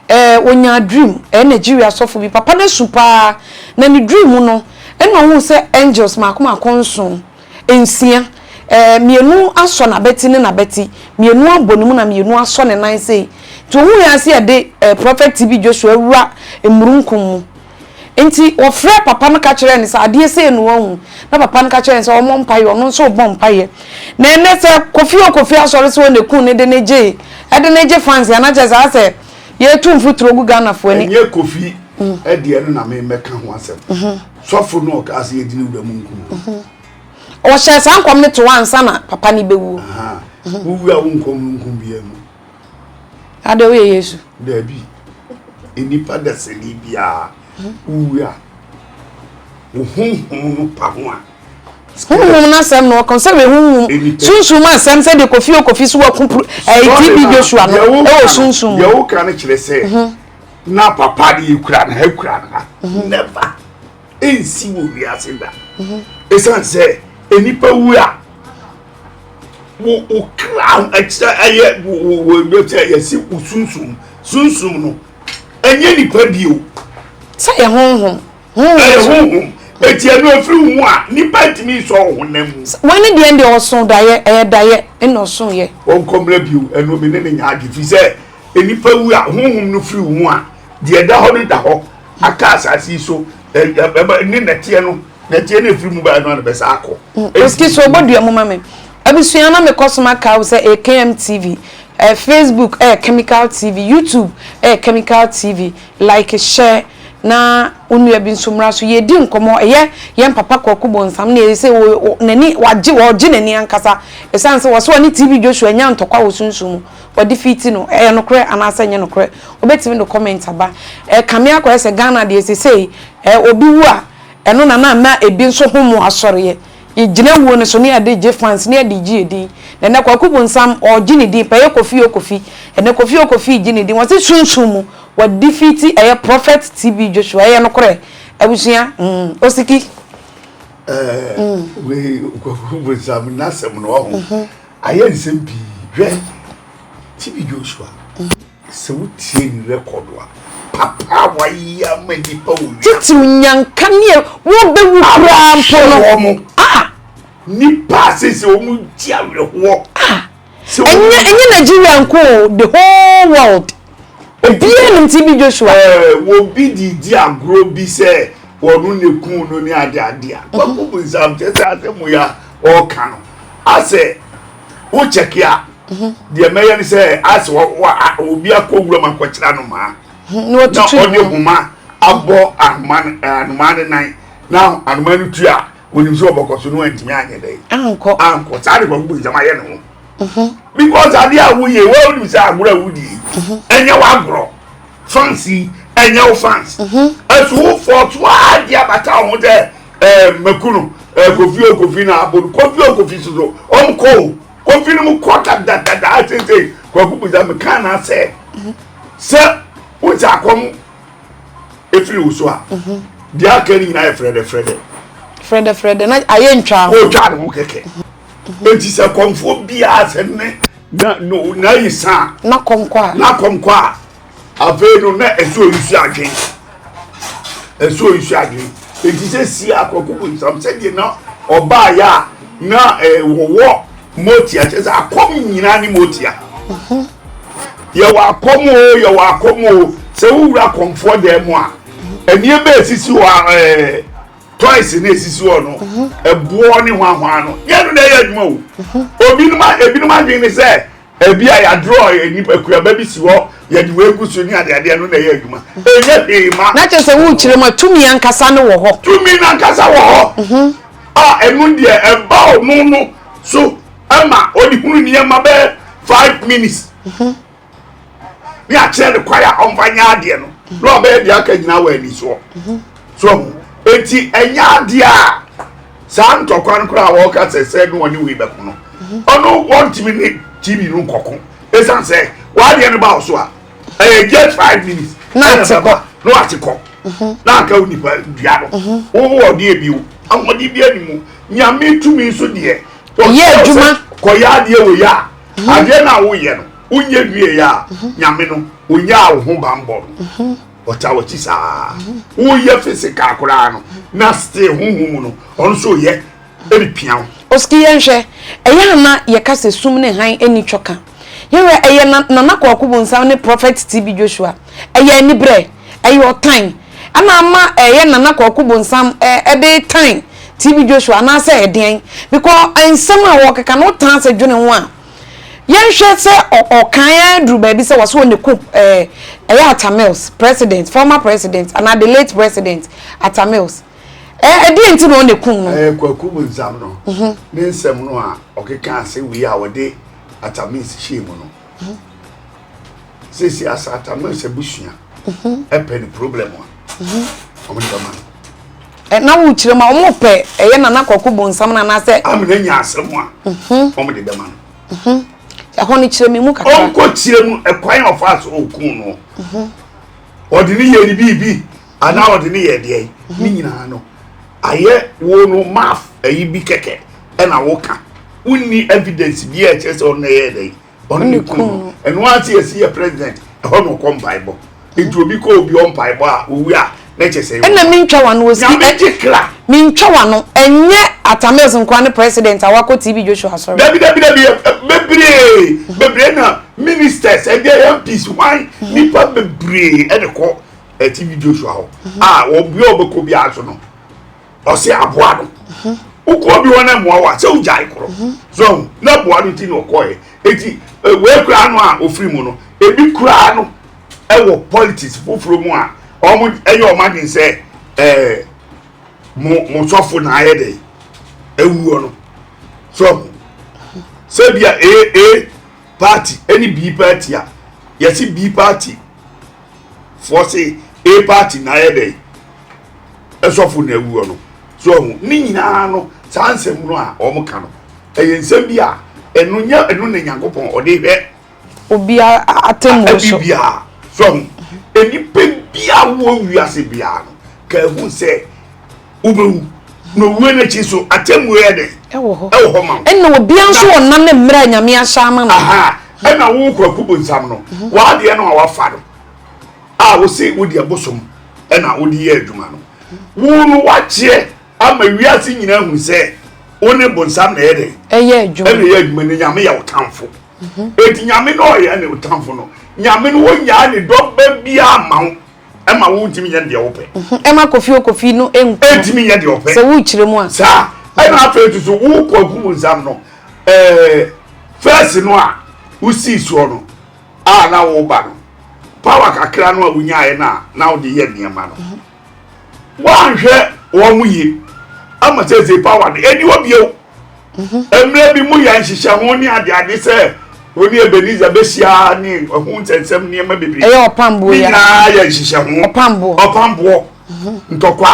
ɛɛ ɔnya dream ɛyɛ Nigeria sɔfo bi papa no asu paa na ne dream no ɛna ɔhu sɛ angels mako mako nson nsia, ɛɛ, mmienu asɔ n'abati ne n'abati, mmienu abɔ ne mu na mmienu asɔ ne nan sei. Nti ohun yɛ ase ɛde ɛɛ Prɔfɛt TB Joshua awura mmurunkum mu. Nti wɔfrɛɛ papa no ka kyerɛɛ no sɛ adeɛ sei na wahu. Na papa no ka kyerɛɛ no sɛ ɔmmɔ mpaeɛ, ɔno nso rebɔ mpaeɛ. Na ɛnnɛ sɛ Kofi o Kofi asɔre sɛ ɔna kun no de no gyee, ɛde no gye fans a na kyerɛ sɛ ayɛ sɛ yɛretu mfuturo gu Ghanafoɔ ani. Ɛnyɛ Kofi deɛ no na meremɛka ho asɛm. Sɔfo no ɔkaa sɛ yɛdi ne wura mu nkumu. Ɔhyɛɛ saa nkɔm no to ansa na papa no bɛwuo. Wo wura wo nkɔm no nkum biaa mu. Adɛ woyɛ Yesu? Daabi, nnipa dasani biaa wo wura wo honhom no pa ho a. Honhom no asɛm na ɔka sɛ wei honhom sunsum ma asɛm sɛ deɛ kofi o kofi so waku ɛyi TB Joshua no ɛwɔ sunsum. Deɛ woka no kyerɛ sɛ. na papa de ekura na ekura na mhm. never ensi wɔ wiase da mhm. esan sɛ enipa wu a wo wo kra ɛkyerɛ ɛyɛ wo wo wo ɛkyerɛ yɛsi wo sunsun sunsun no ɛnyɛ nipa bi o. sɛ yɛ honhom. ɛyɛ honhom eti ɛnu efiri hu a nipa ntumi nsɔ ɔhun na mu. wɔn ni deɛ deɛ ɔsɔn dayɛ ɛyɛ dayɛ ɛna ɔsɔn yɛ. wɔn kɔmina bi o ɛnu mi ne ne nya adi fi sɛ. Nnipa wu a, honhom no firi wɔn mu a, deɛ ɛda hɔ no da hɔ, aka asase yi so, ne nɛteɛ no, nɛteɛ no ɛfiri mu baeɛ no a na bɛsa akɔ. Mm, excuse me, ɔbɔdua mu ma me. Abusua na mekɔ so maka wo sɛ ɛyɛ KM TV, eh, Facebook ɛyɛ eh, Chemical TV, YouTube ɛyɛ eh, Chemical TV, like share na onua bi nso mmra so yɛdi nkɔmmɔ ɛyɛ yɛn papa kwaku bonsam na ɛsɛ n'ani wagye wɔgye n'ani ankasa ɛsiane sɛ wɔsɛ ɔne tv joshua nya ntɔkwa wɔ sunsum mu wɔdefeati no ɛyɛ nokorɛ anaasɛ ɛnyɛ nokorɛ wobɛtumi de comment aba ɛkame akɔyɛ sɛ Ghana deɛ sesei ɛɛ obi wu a ɛno na na ama ebi nso ho mu asɔreɛ yɛgyina wuo no so ne yɛde gye fans ne yɛde gye yɛdin na ɛnɛ Kwaku Bonsam ɔregye ne din pɛ ɛyɛ Kofi o Kofi ɛnɛ Kofi o Kofi regye ne din wɔse sunsum mu wɔdefeati ɛyɛ Prophet TB Joshua ɛyɛ nokorɛ abusua mm Osiki. ɛɛ wei Kwaku Bonsam n'asɛm no ɔho. Ayɛ nsɛm pii. Hwɛ TB Joshua. Sɛ wotie ne record a, papa a wayɛ ama nnipa wɔ wiase. Titiw nyanka ne wɔbɛwu koraa mpo no. Wɔn. Ah! Nnipa a sese wɔn gye awerɛhoɔ. Ah! Ɛnyɛ ɛnyɛ Nigeria nko o, the whole world. Obiaa nim ti bi Joshua. Ɛɛ wɔbi de redi agorɔ bi sɛ wɔno na ɛkuu no ne ade ade a, Kwaku Bonsam kyɛ sɛ asɛm wei a ɔreka no asɛ wo kyɛke a, deɛ mɛyɛ ne sɛ asɛ wɔ wɔ a obi akɔ wuram akɔkyerɛ anomaa na ɔde homa abɔ anomaa no anomaa no nan na anomaa no tu a. Onim sɛ ɔbɛkɔ so na wantumi anyɛ dɛ. Ankɔ. Ankɔ. Saa de kwaku bu nsɛm ayɛ ne ho. Mhm. Because adeɛ a woyɛ wo wonim sɛ agorɔ a wodie yi mhm. ɛnyɛ w'agorɔ. Fans yi ɛnyɛ wo fans. Mhm. Ɛso wo fɔ to a de abata wo ho sɛ ɛɛ eh, mɛku no ɛɛ eh, kofi o kofi na abo no kofi o kofi soso ɔm kɔ o kofi no mu kɔ ta da da da asese kwaku bu nsɛm kan na sɛ sɛ wosɛ akɔm. efiri wo so a mhm. deɛ aka no nyinaa yɛ frɛdɛfrɛdɛ frɛdɛfrɛdɛ na ayɛ ntwa ho ɔtwa ne ho kɛkɛ mhm. enti sɛ kɔmfoɔ biara sɛ ne na no na yi san na kɔmkɔ a na kɔmkɔ a afei no na ɛsɛ oyisi adwen ɛsɛ oyisi adwen enti sɛ si akɔkɔ bonsam sɛdeɛ na ɔbaa yɛ a na ɛwɔwɔ. Eh, Motia kyerɛ sɛ akɔm nyinaa ne motia. Yɛwɔ akɔm o, yɛwɔ akɔm o. Sɛ wowura akɔmfoɔ dan mu a, nneɛma a esisi hɔ a ɛɛ toys na esisi hɔ no, ɛboɔ ne hwahwaa no, yɛn no na ɛyɛ adwuma o. Obinom a ebinom adwene ne sɛ ebi a yɛadorɔ nipa kuaba bi si hɔ yɛde wei gu so ne adeadeɛ no na ɛyɛ adwuma. Ɛnyɛ hwee ma. Na kyerɛ sɛ wokyerɛ mu a tumi ankasa no wɔ hɔ. Tumi no ankasa wɔ hɔ. a ɛno deɛ ɛba ɔno no so ma ɔde hunu nneɛma bɛyɛ five minutes mhm. ne akyerɛ ne kwae a ɔmfa nyɛ adeɛ no mhm. na ɔbɛyɛ deɛ aka nyinaa wɔ ani soɔ mhm. so ho eti ɛnyɛ adeɛ a saa ntɔkwa no koraa a wɔka sɛ sɛ no ɔne wei bɛko no ɔno wɔntumi ne tv no nkɔko ɛsiane sɛ wɔadeɛ no ba wo so a ɛyɛ just five minutes ɛna bɛba na wate kɔ mhm. na aka wo nipa dua no mhm. wowɔ ɔdeɛ bi o ahoɔden bi anim o nyame tumi nso deɛ yɛ adwuma kɔyɛ adeɛ wɔ yɛ a mhm. adeɛ no a woyɛ no wonyɛ wie yɛ a nyame no ɔnyaa wo ho bambɔ no ɔta wɔkyi saa woyɛ physical koraa no na still honhom mu no ɔno nso yɛ repia wo. Oski yɛnhwɛ, ɛyɛ a na yɛka sɛ sum ne hann nni twɔ ka. Yɛnhwɛ, ɛyɛ Nana Kwaku Bonsam ne Prophet TB Joshua. Ɛyɛ aniberɛ, ɛyɛ ɔtan. Ɛna ama ɛyɛ Nana Kwaku Bonsam de tan TB Joshua anaasɛ ɛdeɛn? Because nsɛm a ɔrekeka no wotaa sɛ dwene ho a, yɛnhwɛ sɛ ɔkan ara duru baabi sɛ wɔse wɔn ɛkum ɛyɛ Atta Mills, President, former President anaa the late President Atta Mills. Eh, ɛdeɛ nti na ɔne kum no. Eh, kwaku mu nsam no mhm. ne nsɛm no a ɔkeka ase wei a wɔde atamis hyɛɛ mu no mhm. sɛsi asa atamis abusua mhm. ɛpɛ ne problem a ɔmo ne bɛma no eh, na wo kyerɛ ma ɔmo pɛ ɛyɛ nana kwaku mu nsam no anaasɛ amena nya asɛm a ɔmo de bɛma no ɛhɔ no kyerɛ me mu kakra ɔnkɔ kyerɛ mu ɛkwan ɔfa so ɔkun no ɔde ne yɛ ne biribi anaa wɔde ne yɛ deɛ ne nyinaa no ayɛ wo no maaf ayi bi kɛkɛ ɛna woka wonni evidence bi a ɛkyerɛ sɛ ɔno ɛyɛ dɛ ɔno ne kun no ɛno ara te yɛsi yɛ president ɛhɔ na ɔkɔ mpaebɔ nti obi kɔ obi ɔ mpaebɔ a owi a na kyɛ sɛ ɛna mentwa wano osi nyame gye kra mentwa wano ɛnyɛ atamils nkoa ne president a wakɔ tv joshua asɔre dabi dabi dabi bebree bebree na ministers ɛdeɛ yɛ mps hwan nipa bebree ɛde kɔ ɛte bi joshua hɔ mhm. a ah, wɔn bia ɔbɛkɔ bi aso no ɔsɛ aboa no mhm. wokɔ bi wɔn ɛmoa wa sɛ wogyae korɔ mhm. so na aboa no ti na ɔkɔɛ eti eh, wei kura no a ofiri mu no ebi kura no ɛwɔ politics foforɔ mu a wɔn ɛyɛ wɔn adi sɛ ɛɛ mo mo sɔfo na ayɛ dɛ ewuo no so sɛbi a ee ee party ɛne bii party a yɛsi bii party. foɔ se a party na ayɛ dɛn ɛsɔfo na awuo no so ɔho ne nyinaa no saa nsɛm no a wɔn ka no ɛyɛ nsɛm bi a ɛno nya ɛno na nyankopɔn ɔde hwɛ obiara atemmuo so biara so ɔho nnipa bi a wɔn wiase biara no ka ehu sɛ wobɛwu na owuo no akyi nso atemmuo yɛ dɛn ɛwɔ hɔ ɛwɔ hɔ ma wo ɛna obia nso wɔ nna ne mmerɛ a nyame ahyɛ ama no aha ɛna wo kwaku bonsam no mhm. w'adeɛ no a wafa no a wose wode abosom ɛna wode yɛ adwuma no wo no wakyeɛ ama wiase nyinaa hu sɛ wo ne bonsam na ɛyɛ dɛn ɛyɛ adwuma ɛna ɛyɛ adwuma no nyame yɛ wo tamfo mhm. eti nyame no ɔyɛ ne wo tamfo no nyame no wɔnyaa ne dɔba biaa ma wo ɛma wo ntumi nyɛ deɛ wopɛ. Mhm, ɛma kofi okofi no nku. ɛntumi nyɛ deɛ ɔpɛ. sɛ wokyerɛ mu a. saa ɛna mhm. afei nso so wokɔ akum nsam no ɛɛ fɛs no a wosii soɔ no a na woba no pawa kakra no a wonyaeɛ no a na wode yɛ nneɛma no mhm. woanhwɛ wɔn mu yie ama sɛ sɛ pawa no ɛni hɔ bio. mmerɛ bi mu yɛ nhyehyɛ ho ne adeade sɛ ɔne Ebenezer bɛhyia ne ɛho nsɛnsɛm nneɛma bebree ɛyɛ ɔpamboɔ ne nyinaa yɛ nhyehyɛ ho ɔpamboɔ ɔpamboɔ mhm. ntɔkwa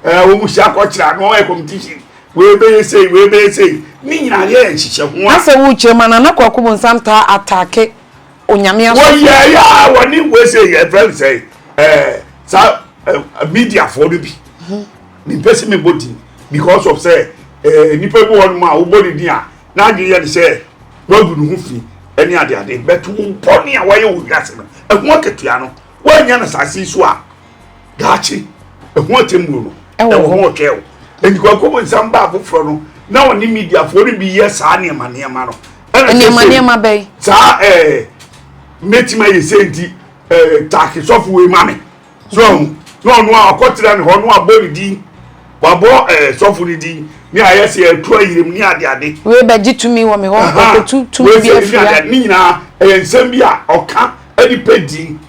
ɛɛ wɔn hyia akɔkyerɛ ano ɔyɛ competition wei bɛyɛ sei wei bɛyɛ sei ne nyinaa yɛ nhyehyɛ ho a. asɛ wo kyerɛ mu anana kɔ akɔbɔ nsam taa ataake onyame asɔ. wɔyɛ yɛ a wɔne wɔsɛ yɛ fɛn sɛ ɛɛ sa ɛɛ mediafoɔ no bi. Mhm. mempɛ sɛ mebɔ din because of sɛ eh, nnipa bi wɔ nom a wobɔ ne din a n'adwene yɛ ne sɛ wagu ne ho fi ne adeade but wo bɔne a wayɛ wɔ wiase no ɛho akatua no woanya no asase yi so a daakye ɛho atemmuo no ɛwɔ ho ɔtwɛ wo ɛnti kwakobo nsɛm baa foforɔ no na ɔne mediafoɔ no bi yɛ saa nneɛma nneɛma no nneɛma nneɛma bɛyi saa ɛɛ eh, mɛtumi ayɛ sɛ nti ɛɛ eh, taake sɔfo wei ma me So ahu? Na ɔno a ɔkɔtena ne hɔ no abɔ ne din, wabɔ ɛɛ eh, sɔfo ne din, ne ayɛ sɛ ɛtu ayerem ne adeade. Wei bɛgye tumi wɔ me hɔ, ɔkɔtu tumi bi afiri ha. Ne nyinaa ɛyɛ nsɛm bi a ɔka ɛde pɛ din.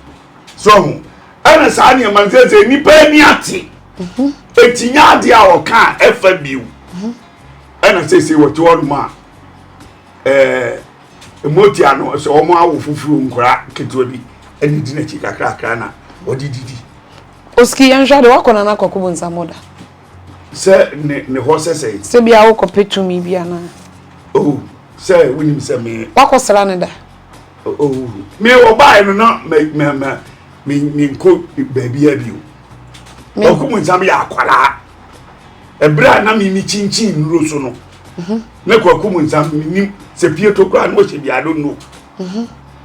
So ahu? Ɛna saa nneɛma nsɛsɛ nnipa ani ate. Mhm. Eti nya adeɛ a ɔka a ɛfa bio. Mhm. Ɛna sese wɔte hɔ nom a. ɛɛ mogya no sɛ wɔn awo foforo nkora ketewa bi ɛne di n'akyi kakrakra na wɔde didi. osiki yɛn hwɛ de wakɔ na n'akɔ kɔbɔ nsamu da. sɛ ne ne hɔ sɛ sɛ. sɛ bi awo kɔ pɛ tumi bi ana. oh sɛ wunim sɛ me. wakɔ sra ne da. oh me ɔbaa no na mɛ mɛ mɛ me me nko baabi a bi o. ɔkò mu nsam yɛ akwaraa. ɛberɛ a na mimi kyinkyin nnuro so no na kwaku mu nsam menim sɛ pie to koraa na ɔhyɛ bi ado no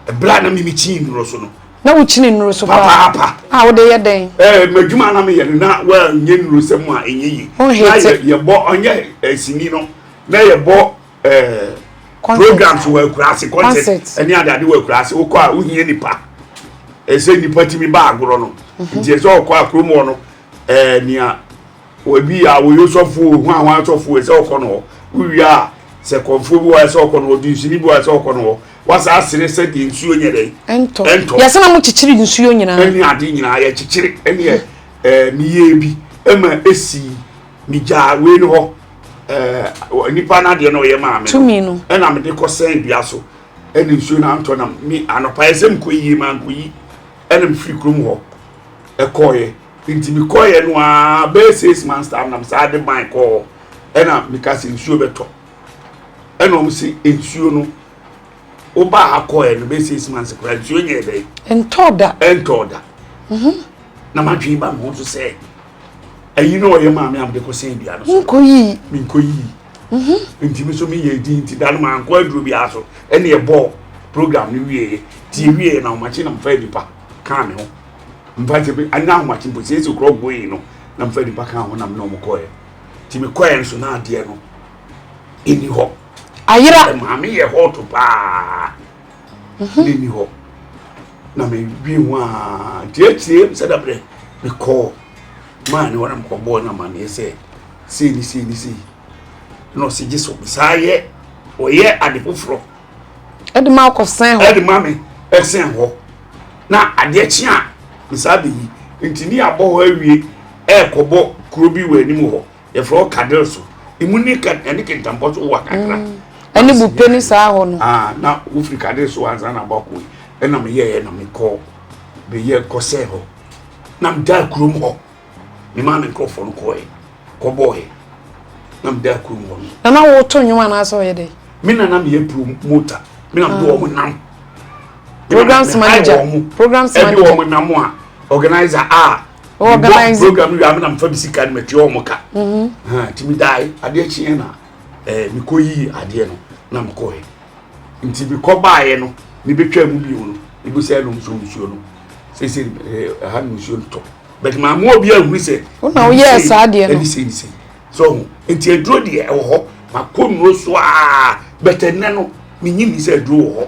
ɛberɛ a na mimi kyin nnuro so no na wokyini nnuro so papaapa a wode yɛ dɛn ɛɛ madwuma na meyɛ no na wɔnyɛ nnuro sɛ mu a ɛnyɛ yi na yɛbɔ ɔnyɛ asini no na yɛbɔ ɛɛ programs wɔ akuraase concert ɛne adade wɔ akuraase wokɔ a wohia nipa ɛsɛ nipa tumi ba agorɔ no nti ɛsɛ ɔkɔ a kurom hɔ no ɛɛ nea obi a wɔyɛ osɔfo o hwan hwan sɔfo ɛsɛ ɔkɔ no hɔ wowie a sɛ kɔnfoɔ bi wɔ ɛsɛ ɔkɔ no hɔ dunsini bi wɔ ɛsɛ ɔkɔ no hɔ wasa asere sɛ deɛ nsuo nyɛ dɛ ɛntɔ ɛntɔ yɛsɛ na mo kyekyere nsuo nyinaa ɛne ade nyinaa yɛ kyekyere ɛne ɛɛ eh, meyɛ bi ɛma esi megyaa wei no hɔ ɛɛ eh, nipa n'adeɛ na ɔyɛ maame tumi no ɛna mede kɔ sɛn dua so ɛne nsuo na antɔ nam me anɔpa ɛsɛ mkɔ yie ma nkɔ yi. Ɛna mefiri kurom hɔ ɛkɔɔeɛ nti mekɔɔeɛ no ara bɛyɛ six months time na mesaa de ban kɔɔ ɛna meka sɛ nsuo bɛtɔ ɛna wɔn se nsuo no wobaa ha kɔɔeɛ no bɛyɛ six months koraa nsuo nyɛɛ dɛn ɛntɔɔ da ɛntɔɔ da mhm. na madwene ba me ho so sɛ ayi na ɔyɛ maame a mede kɔsɛn dua no so menkɔ yii menkɔ yii mhm. nti me so meyɛ di nti da no mankɔ aduro biara so ɛne ɛbɔɔ program no wieɛ nti ɛwieɛ na ahomakye na mfa nipa kaa me ho mfa sɛ bi anya ahomakye mpo sɛ ɛsɛ kurɔ goyi no na mfa nipa kaa ho nam na ɔmo kɔɛ nti mekɔɛ nso na adeɛ no ɛni hɔ ayera maame yɛ hɔ to paa mhm. ne ni hɔ na medwi ho a tiatie sɛ da berɛ mekɔɔ maa ne wɔnam kɔbɔɔ no amanneɛ sɛ sei ne sei ne sei na ɔse gye so mesaa yɛ ɔyɛ ade foforɔ ɛde ma akɔsɛn hɔ ɛde ma me ɛsɛn hɔ na adeɛ kye a mesaa bɛyi nti ne abɔ hɔ awie ɛɛkɔbɔ kuro bi wɔ anim hɔ yɛfrɛ hɔ kadere so emu ne ka ɛne kentambɔ so wa kakra mm. ɛne bupe ne saa hɔ no ah, na wofiri kadere so ansa na abɔko yi ɛna meyɛɛ na mekɔ bɛyɛ kɔsɛɛ hɔ na meda kurom hɔ me maa me nkurɔfoɔ no kɔɛ kɔbɔɔɛ na meda kurom hɔ no na na woto nnwom anaasɛ ɔyɛ dɛ me na na meyɛ promota me na mede ah. wɔn nam programs manager programs manager ɛde wɔn nam a organizer a mebɔ program no wie a me na mefa me sika no matua wɔn ka mm-hmm. nti medae adeɛ kyeɛ na eh, mekɔ yii adeɛ no na mekɔɛ nti mekɔ baeɛ no mebɛtwa mu bio no mebu sɛ ɛnom so nsuo no sɛsɛ eh, ɛha no nsuo no tɔ but maamoa obi ahunu sɛ wona woyɛɛ saa adeɛ no ɛne sɛ ne sɛ sɛ ɔho nti aduro deɛ ɛwɔ hɔ makɔ nnuro so a bɛtɛ nnɛ no menyi ni sɛ aduro wɔ hɔ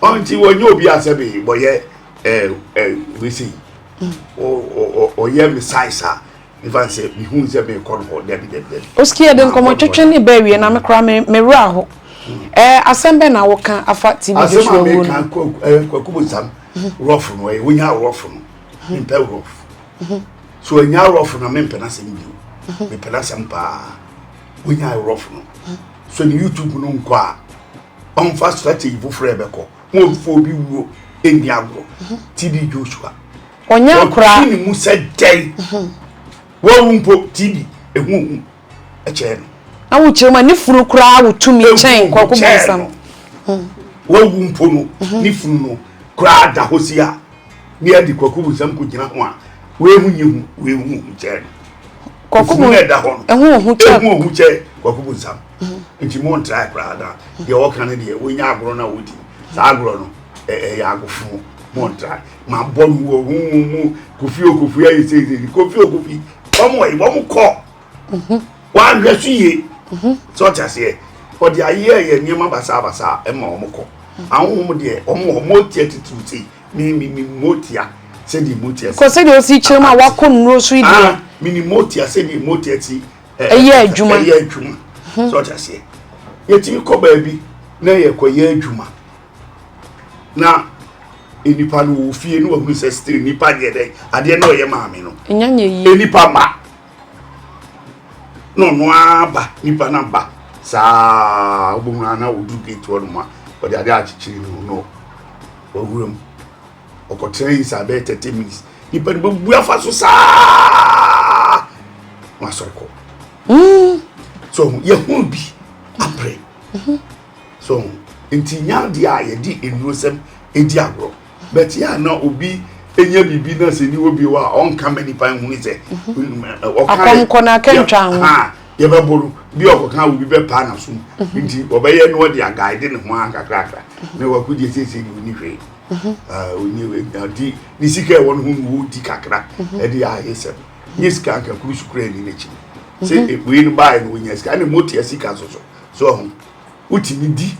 Ɔnti wɔnyɛ obi a sɛ bi bɔyɛ wese ɔyɛ me size a mefa sɛ mehu sɛ mekɔ no hɔ dabi dabi dabi. Oski yɛde nkɔmmɔ twetwe ne bɛ awie na me koraa me me werɛ aho. Ɛɛ asɛm bɛ na woka afa TB Joshua wuo no. Asɛm a meka kwaku bonsam rɔfo no ɛyɛ wonya rɔfo no mempɛ rɔfo. So ɛnya rɔfo na mempɛ n'asɛm bio. Mepɛ n'asɛm paa wonya rɔfo no. So ne YouTube no nkɔ a ɔmfa strategy foforɔ a ɛbɛkɔ ho ɔmfa obi wuo ɛnni agorɔ mhm. tb joshua ɔnyɛ akora ɔtwe ne mu sɛ dɛn mhm. wawu mpo tb ɛhuhu ɛkyɛɛ no na wokyerɛ mu ne funu koraa wo tumi kyɛn kɔkɔ bɔnsam mhm. wawu mpo no ne funu no koraa da hɔ si a ne yɛde kɔkɔ bɔnsam kɔgyina ho a wehu nye hu wehu hu kyɛɛ no kɔkɔ bɔnsam ɛho ɔho kyɛɛ kɔkɔ bɔnsam nti mo ntrae koraa na deɛ wɔka no deɛ wɔnya agorɔ no a wɔdi saa agorɔ no ɛyɛ agofo mo ntrae ma bɔ no wɔ ho mu mu kofi okofi ayɛ seisei kofi okofi wɔn wɔyi wɔn kɔ wɔahwɛ so yie sɛ ɔte aseɛ ɔde ayɛ yɛ nneɛma basabasa ɛma wɔn kɔ ahohom deɛ wɔn wɔ wɔn tia titiriw sei mi mi mi mo tia sɛdeɛ mo tia si kɔ sɛdeɛ osi kyerɛ mu a wakɔ nnuro so yi deɛ mi ni mo tia sɛdeɛ mo tia si. ɛyɛ adwuma ɛyɛ adwuma hmm. sɛ ɔte aseɛ yɛtumi kɔ baabi na yɛkɔyɛ adwuma na nipa no wɔ fie no wahunu sɛ still nipa deɛ dɛ adeɛ na ɔyɛ maame no nipa ma na ɔno aba nipa no aba saa wobɛhunu ana ɔdu gate hɔ nom a ɔde adeɛ akyekyere no no wawura mu ɔkɔtena yi saa bɛyɛ thirty minutes nipa no bɛbu afa so saa wasɔre kɔ hmm. so yɛhunu bi aprɛ mhm. so nti nya adeɛ a yɛde nnuro sɛm ɛdi agorɔ but yɛ a na obi enya biribi na sɛ ni obi wɔ a ɔnka ma nipa nhuni sɛ mhm. ɔka akɔmkɔ na akɛntwa ho yɛbɛbɔ no bi ɔkɔka obi bɛpaa n'asom mhm. nti ɔbɛyɛ no ɔde agaade ne ho ankakrakra na wakɔgye siesie ne ho ne hwee ɔde ne sika ɛwɔ no ho na ɔredi kakra ɛde ayɛ sɛ nye sika anka kuru so kura ni n'akyi no sɛ ebue no baeɛ no ɔnya sika ɛna motia sika so so so ɔho wotumi di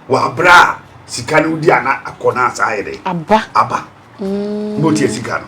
wɔ abere a sika no wodi ana akɔ no asa ayɛ dɛ aba aba motia sika no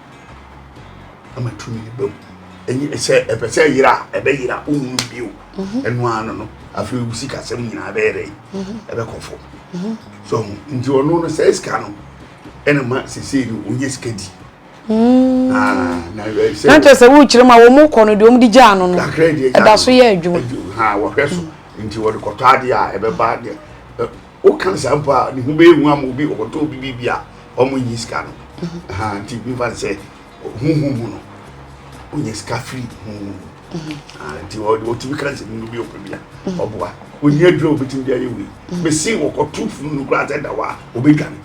ama tumi ba mu ɛnyɛ sɛ ɛpɛ sɛ yera ɛbɛ yera ohun bio mhm. ɛnu ano no afei obi sika sɛm nyinaa bɛyɛ dɛ mhm. ɛbɛ kɔ fo mhm. so nti ɔno no sɛ sika no ɛna ma sese no onye sika di. Mm. Ah, na kyerɛ sɛ wokyerɛ mu a wɔn kɔ no deɛ wɔn de gya ano no ɛda so yɛ adwuma. wɔhwɛ so nti wɔde kɔtɔ adeɛ a ɛbɛba deɛ. Woka saa mpo a, ne ho bɛyɛ hu ama obi, ɔkɔtɔ obi biribi a ɔmo nyi sika no. Ahaa, nti mefa no sɛ honhom mu no, onya sika firi honhom mu. Ahaa, nti ɔ- ɔtumi ka nsɛm no bi ɔpɛ bi a, ɔboa. Ɔnni aduro a ɔbɛtumi de ayɛ wei. Mese ɔkɔto funu no koraa sɛ da hɔ a, ɔbɛdwane.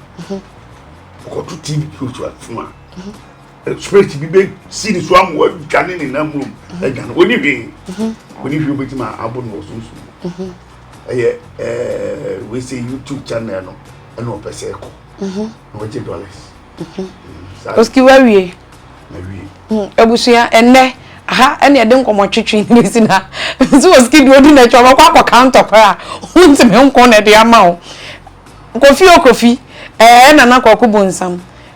Ɔkɔto TV bi otu a- funu a, eh, spirit bi bɛsi ne so ama wadwane ne nam mmom, adwane. Ɔnni hwee. Ɔnni hwee a ɔbɛtumi a- abɔ no wɔ sunsum mu. ɛyɛ ɛɛ wei sɛ youtube channel no ɛna ɔpɛ sɛ ɛkɔ mhm. na ɔgye dollars mhm. mm, oski wawie mm, abusua ɛnɛ aha ɛne ɛde nkɔmɔ twetwe ne si na nso oski deɛ ɔdi n'akyi ɔbɛkɔ akɔ counter kora a wontumi nkɔn na ɛde ama wo kofi o kofi ɛɛ nana kɔkɔ bu nsam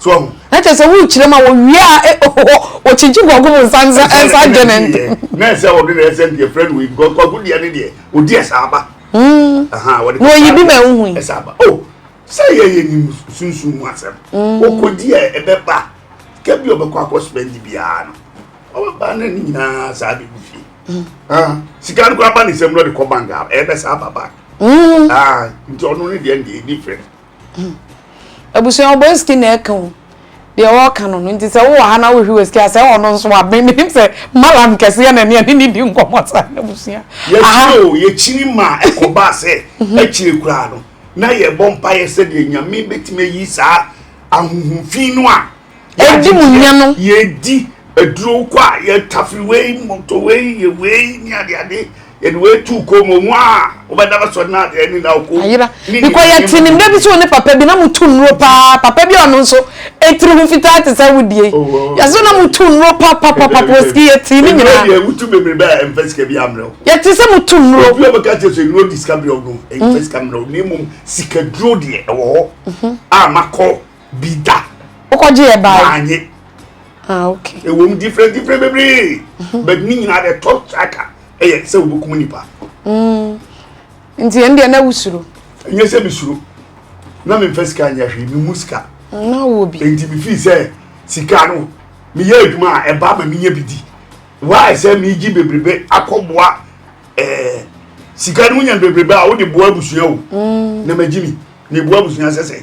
So wahu? Na kyerɛ sɛ wokyerɛ ma wɔwie a eh, oh, oh, wɔkyegye guagu mu nsa nsa nsa adwe ne ntɛm. Na ɛsɛ wɔde na ɛsɛ nti ɛfrɛ no wei because kwaku deɛ ne deɛ ɔdi ɛsa aba. Hmm. Aha, wɔde na oyi bi ma ɛho hui. Ɛsa aba. Oh, sɛ yɛ yɛ nim sunsun mu asɛm. Hmm. Ɔkɔdi a ɛbɛba sika bi ɔbɛkɔ akɔ spend biara no ɔbɛba na ne nyinaa saa bi gu fie. Hmm. Ah, sika no kɔ aba ne nsam na ɔde kɔ bank a ɛbɛsa aba bank. Hmm. Ah, nti ɔno ne deɛ ne deɛ different. Abusua ɔbɔ esiki na ɛka o deɛ ɔɔka no no nti sɛ wowɔ ha na wohwi wɔ esiki a sɛ ɔno nso a me menim sɛ malam kɛseɛ na ɛneɛ ne ne di nkɔmɔ saa na abusua aha. Yɛhwɛ o yɛkyini ma ɛkɔbaa sɛ akyire koraa no na yɛbɔ mpaeɛ sɛdeɛ Nyame bɛtumi ayi saa ahohomfii no a Yɛdi mu nya no. Yɛdi aduro kɔ a yɛtafiri wei mɔtɔ wei yɛ wei ne adeade yɛde wei tu kɔ mu ɔmo a wɔbɛda bɛsɔ ne adeɛ ne na ɔkɔ. Ayera bikɔ yɛte ne mmerɛ bi so ne papa bi na mo tu nnuro paa papa bi a ɔno nso etiri ho fitaa te sɛ wodie oh, oh, oh. yɛso na mo tu nnuro papapapa pɔsi yɛte ne nyinaa. Ɛnna yɛ wotu bebree bɛyɛ ɛnfɛ sika bi amrɛ o. Yɛte sɛ mo tu nnuro. Obi a bɛka kyerɛ sɛ nnuro di sika bi ɔno ɛnfɛ sika amrɛ o na emu sika duro deɛ ɛwɔ hɔ a makɔ. bi da. wokɔgye yɛ baa maanye ah okay ɛwɔ mu different different bebree mhm. but ne nyinaa the top tracker ɛyɛ sɛ wobɛkum nipa mm. nti ɛn deɛ na wosuro ɛnyɛ sɛ mesuro na memfa sika nyɛ hwee memu sika na wɔ bi nti mefii sɛ sika no meyɛ adwuma a ɛba ma menyɛ bi di waayɛ sɛ megye bebrebe akɔboa ɛɛ eh, sika no wonya bebrebe a wode boa abusua o mm. na magye mi na ɛboa abusua sɛ sɛ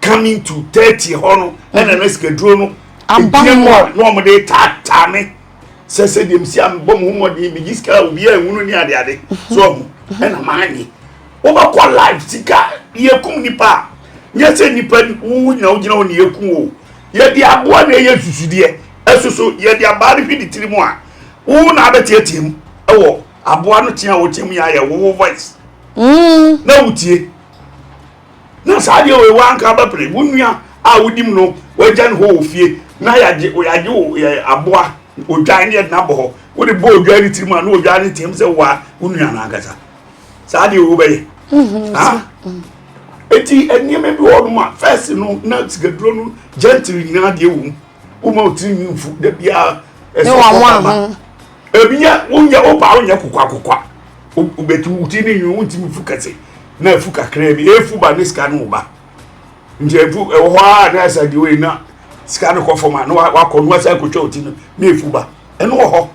coming to thirty hɔ no ɛna na sikaduro no ɛgyina mu a na wɔn de taataa me sɛ sɛ deɛ msi a mebɔ mo ho mmɔden megye sika a obi a ɛhunu ne adeade so ɔho ɛna maanye wobɛkɔ live sika yɛkum nipa a nyɛ sɛ nipa wo nyina wogyina wo ne yɛkum o yɛde aboa na ɛyɛ susudeɛ ɛsoso yɛde abaa no hwede tiri mu a wo na abɛteatea mu ɛwɔ aboa no tea a wɔteam yɛ ayɛ wowo voice mm. na wotie na saa deɛ wei wanka bɛpere wo nua a wodi mu no wagya no hɔ wɔ fie na yɛagye yɛagye wo yɛ aboa odwan ne yɛde no abɔ hɔ wode bɔ odwan ne tirim a na odwan ne team sɛ woa wo nua no ankasa saa deɛ wei wobɛyɛ mhm, ha eti nneɛma bi wɔ hɔ nom a fɛs no na sikaduro no gentle nyinaa deɛ wɔ mu woma wo tirinwi mfu da biara ɛsɛ ɔkɔ kama ebi yɛ wonyɛ wopa wonyɛ kokwa kokwa wobɛti wo ti ne nwi wontimi fu kɛse na afu kakraa bi ɛfu ba ne sika no wo ba nti ɛfu ɛwɔ hɔ a na ɛsɛ de wei na sika no kɔ fam a na wakɔ no wasan kɔtwa wo ti no na ɛfu ba ɛno wɔ hɔ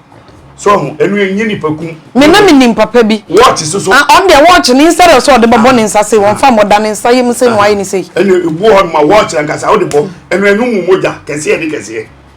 so ho ɛno ɛnyɛ nipa kum me na menim papa bi wɔɔkye so so ɔn deɛ wɔɔkye ne nsa deɛ sɛ ɔde bɛbɔ ne nsa sei wɔmfa mmɔda ne nsa yɛ mu sei na wayɛ ne sei ɛne ɛbu hɔ no ma wɔɔkye ankasa wode bɔ ɛno ɛno mu mogya kɛseɛ ne kɛseɛ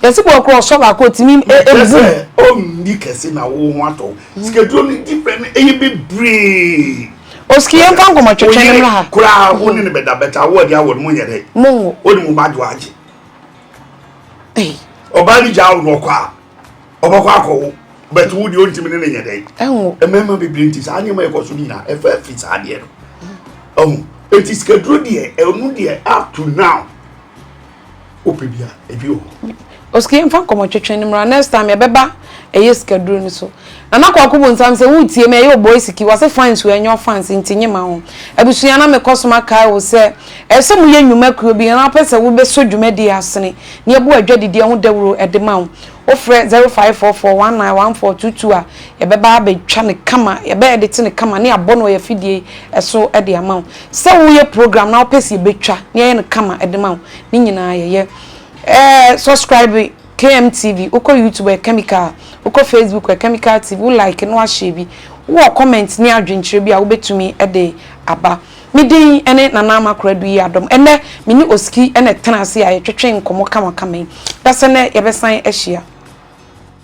Yɛsi bɔ korɔ sɔ baako otimi mbu. Mekyɛ sɛ o nni kɛse na wo ho atɔ wo. Sikaduro no di fɛ no ɛyɛ bebree. Oski yɛn fa nkɔmɔ twɛtwɛ no mmra ha. Oyere koraa wo ne no bɛda but awo adi awo no mo nyɛ dɛ. Mo nwo. O ne mo ba dwo agye. Ɔbaa no gyaa wo no ɔkɔ a ɔbɛkɔ akɔ wo but wo deɛ ontimi ne no nyɛ dɛ. Ɛnwo. Mmarima bebree nti saa nneɛma ɛkɔ so no nyinaa ɛfa fi saa adeɛ no. Ɔho. Eti sikaduro deɛ ɛno deɛ up to now. Wopɛ bi a, ebi wɔ hɔ. Osika yɛmfa nkɔmmɔtwetwe no mmra next time yɛbɛba ɛyɛ sikaduro no so. Nana Kwaku Bonsam sɛ woretie me ɛyɛ Oboi Siki wɔse fans o ɛnyɛ ɔfans nti nye ma ho. Abusua na mekɔ so makae wo sɛ ɛsɛ sɛ moyɛ nnwuma kuo bi na wopɛ sɛ wobɛsɔ dwumadie asene na yɛbu adwadideɛ ho dawuro de ma wo wofrɛ 0544191422 a yɛbɛba abɛtwa no kama yɛbɛɛdete no kama ne abɔ no wɔ yɛn afidie so de ama wo. Sɛ woyɛ program na wopɛ sɛ yɛbɛtwa na yɛayɛ no kama de ma wo, ne nyinaa yɛyɛ. Eh, subscribe KMTV, wokɔ YouTube ɔyɛ Kemikal, wokɔ Facebook ɔyɛ Kemikal TV, wo like na wahyɛ bi. Wowɔ comment ne adwenkyerɛ bi a wobɛtumi de aba. Me din ne Nana Ama Koradu Yi Adom. Ɛnnɛ, me ne Oski na ɛtena ase a yɛtwetwe nkɔmmɔ kamakama yi. Dasɛ nnɛ yɛbɛsan ahyia.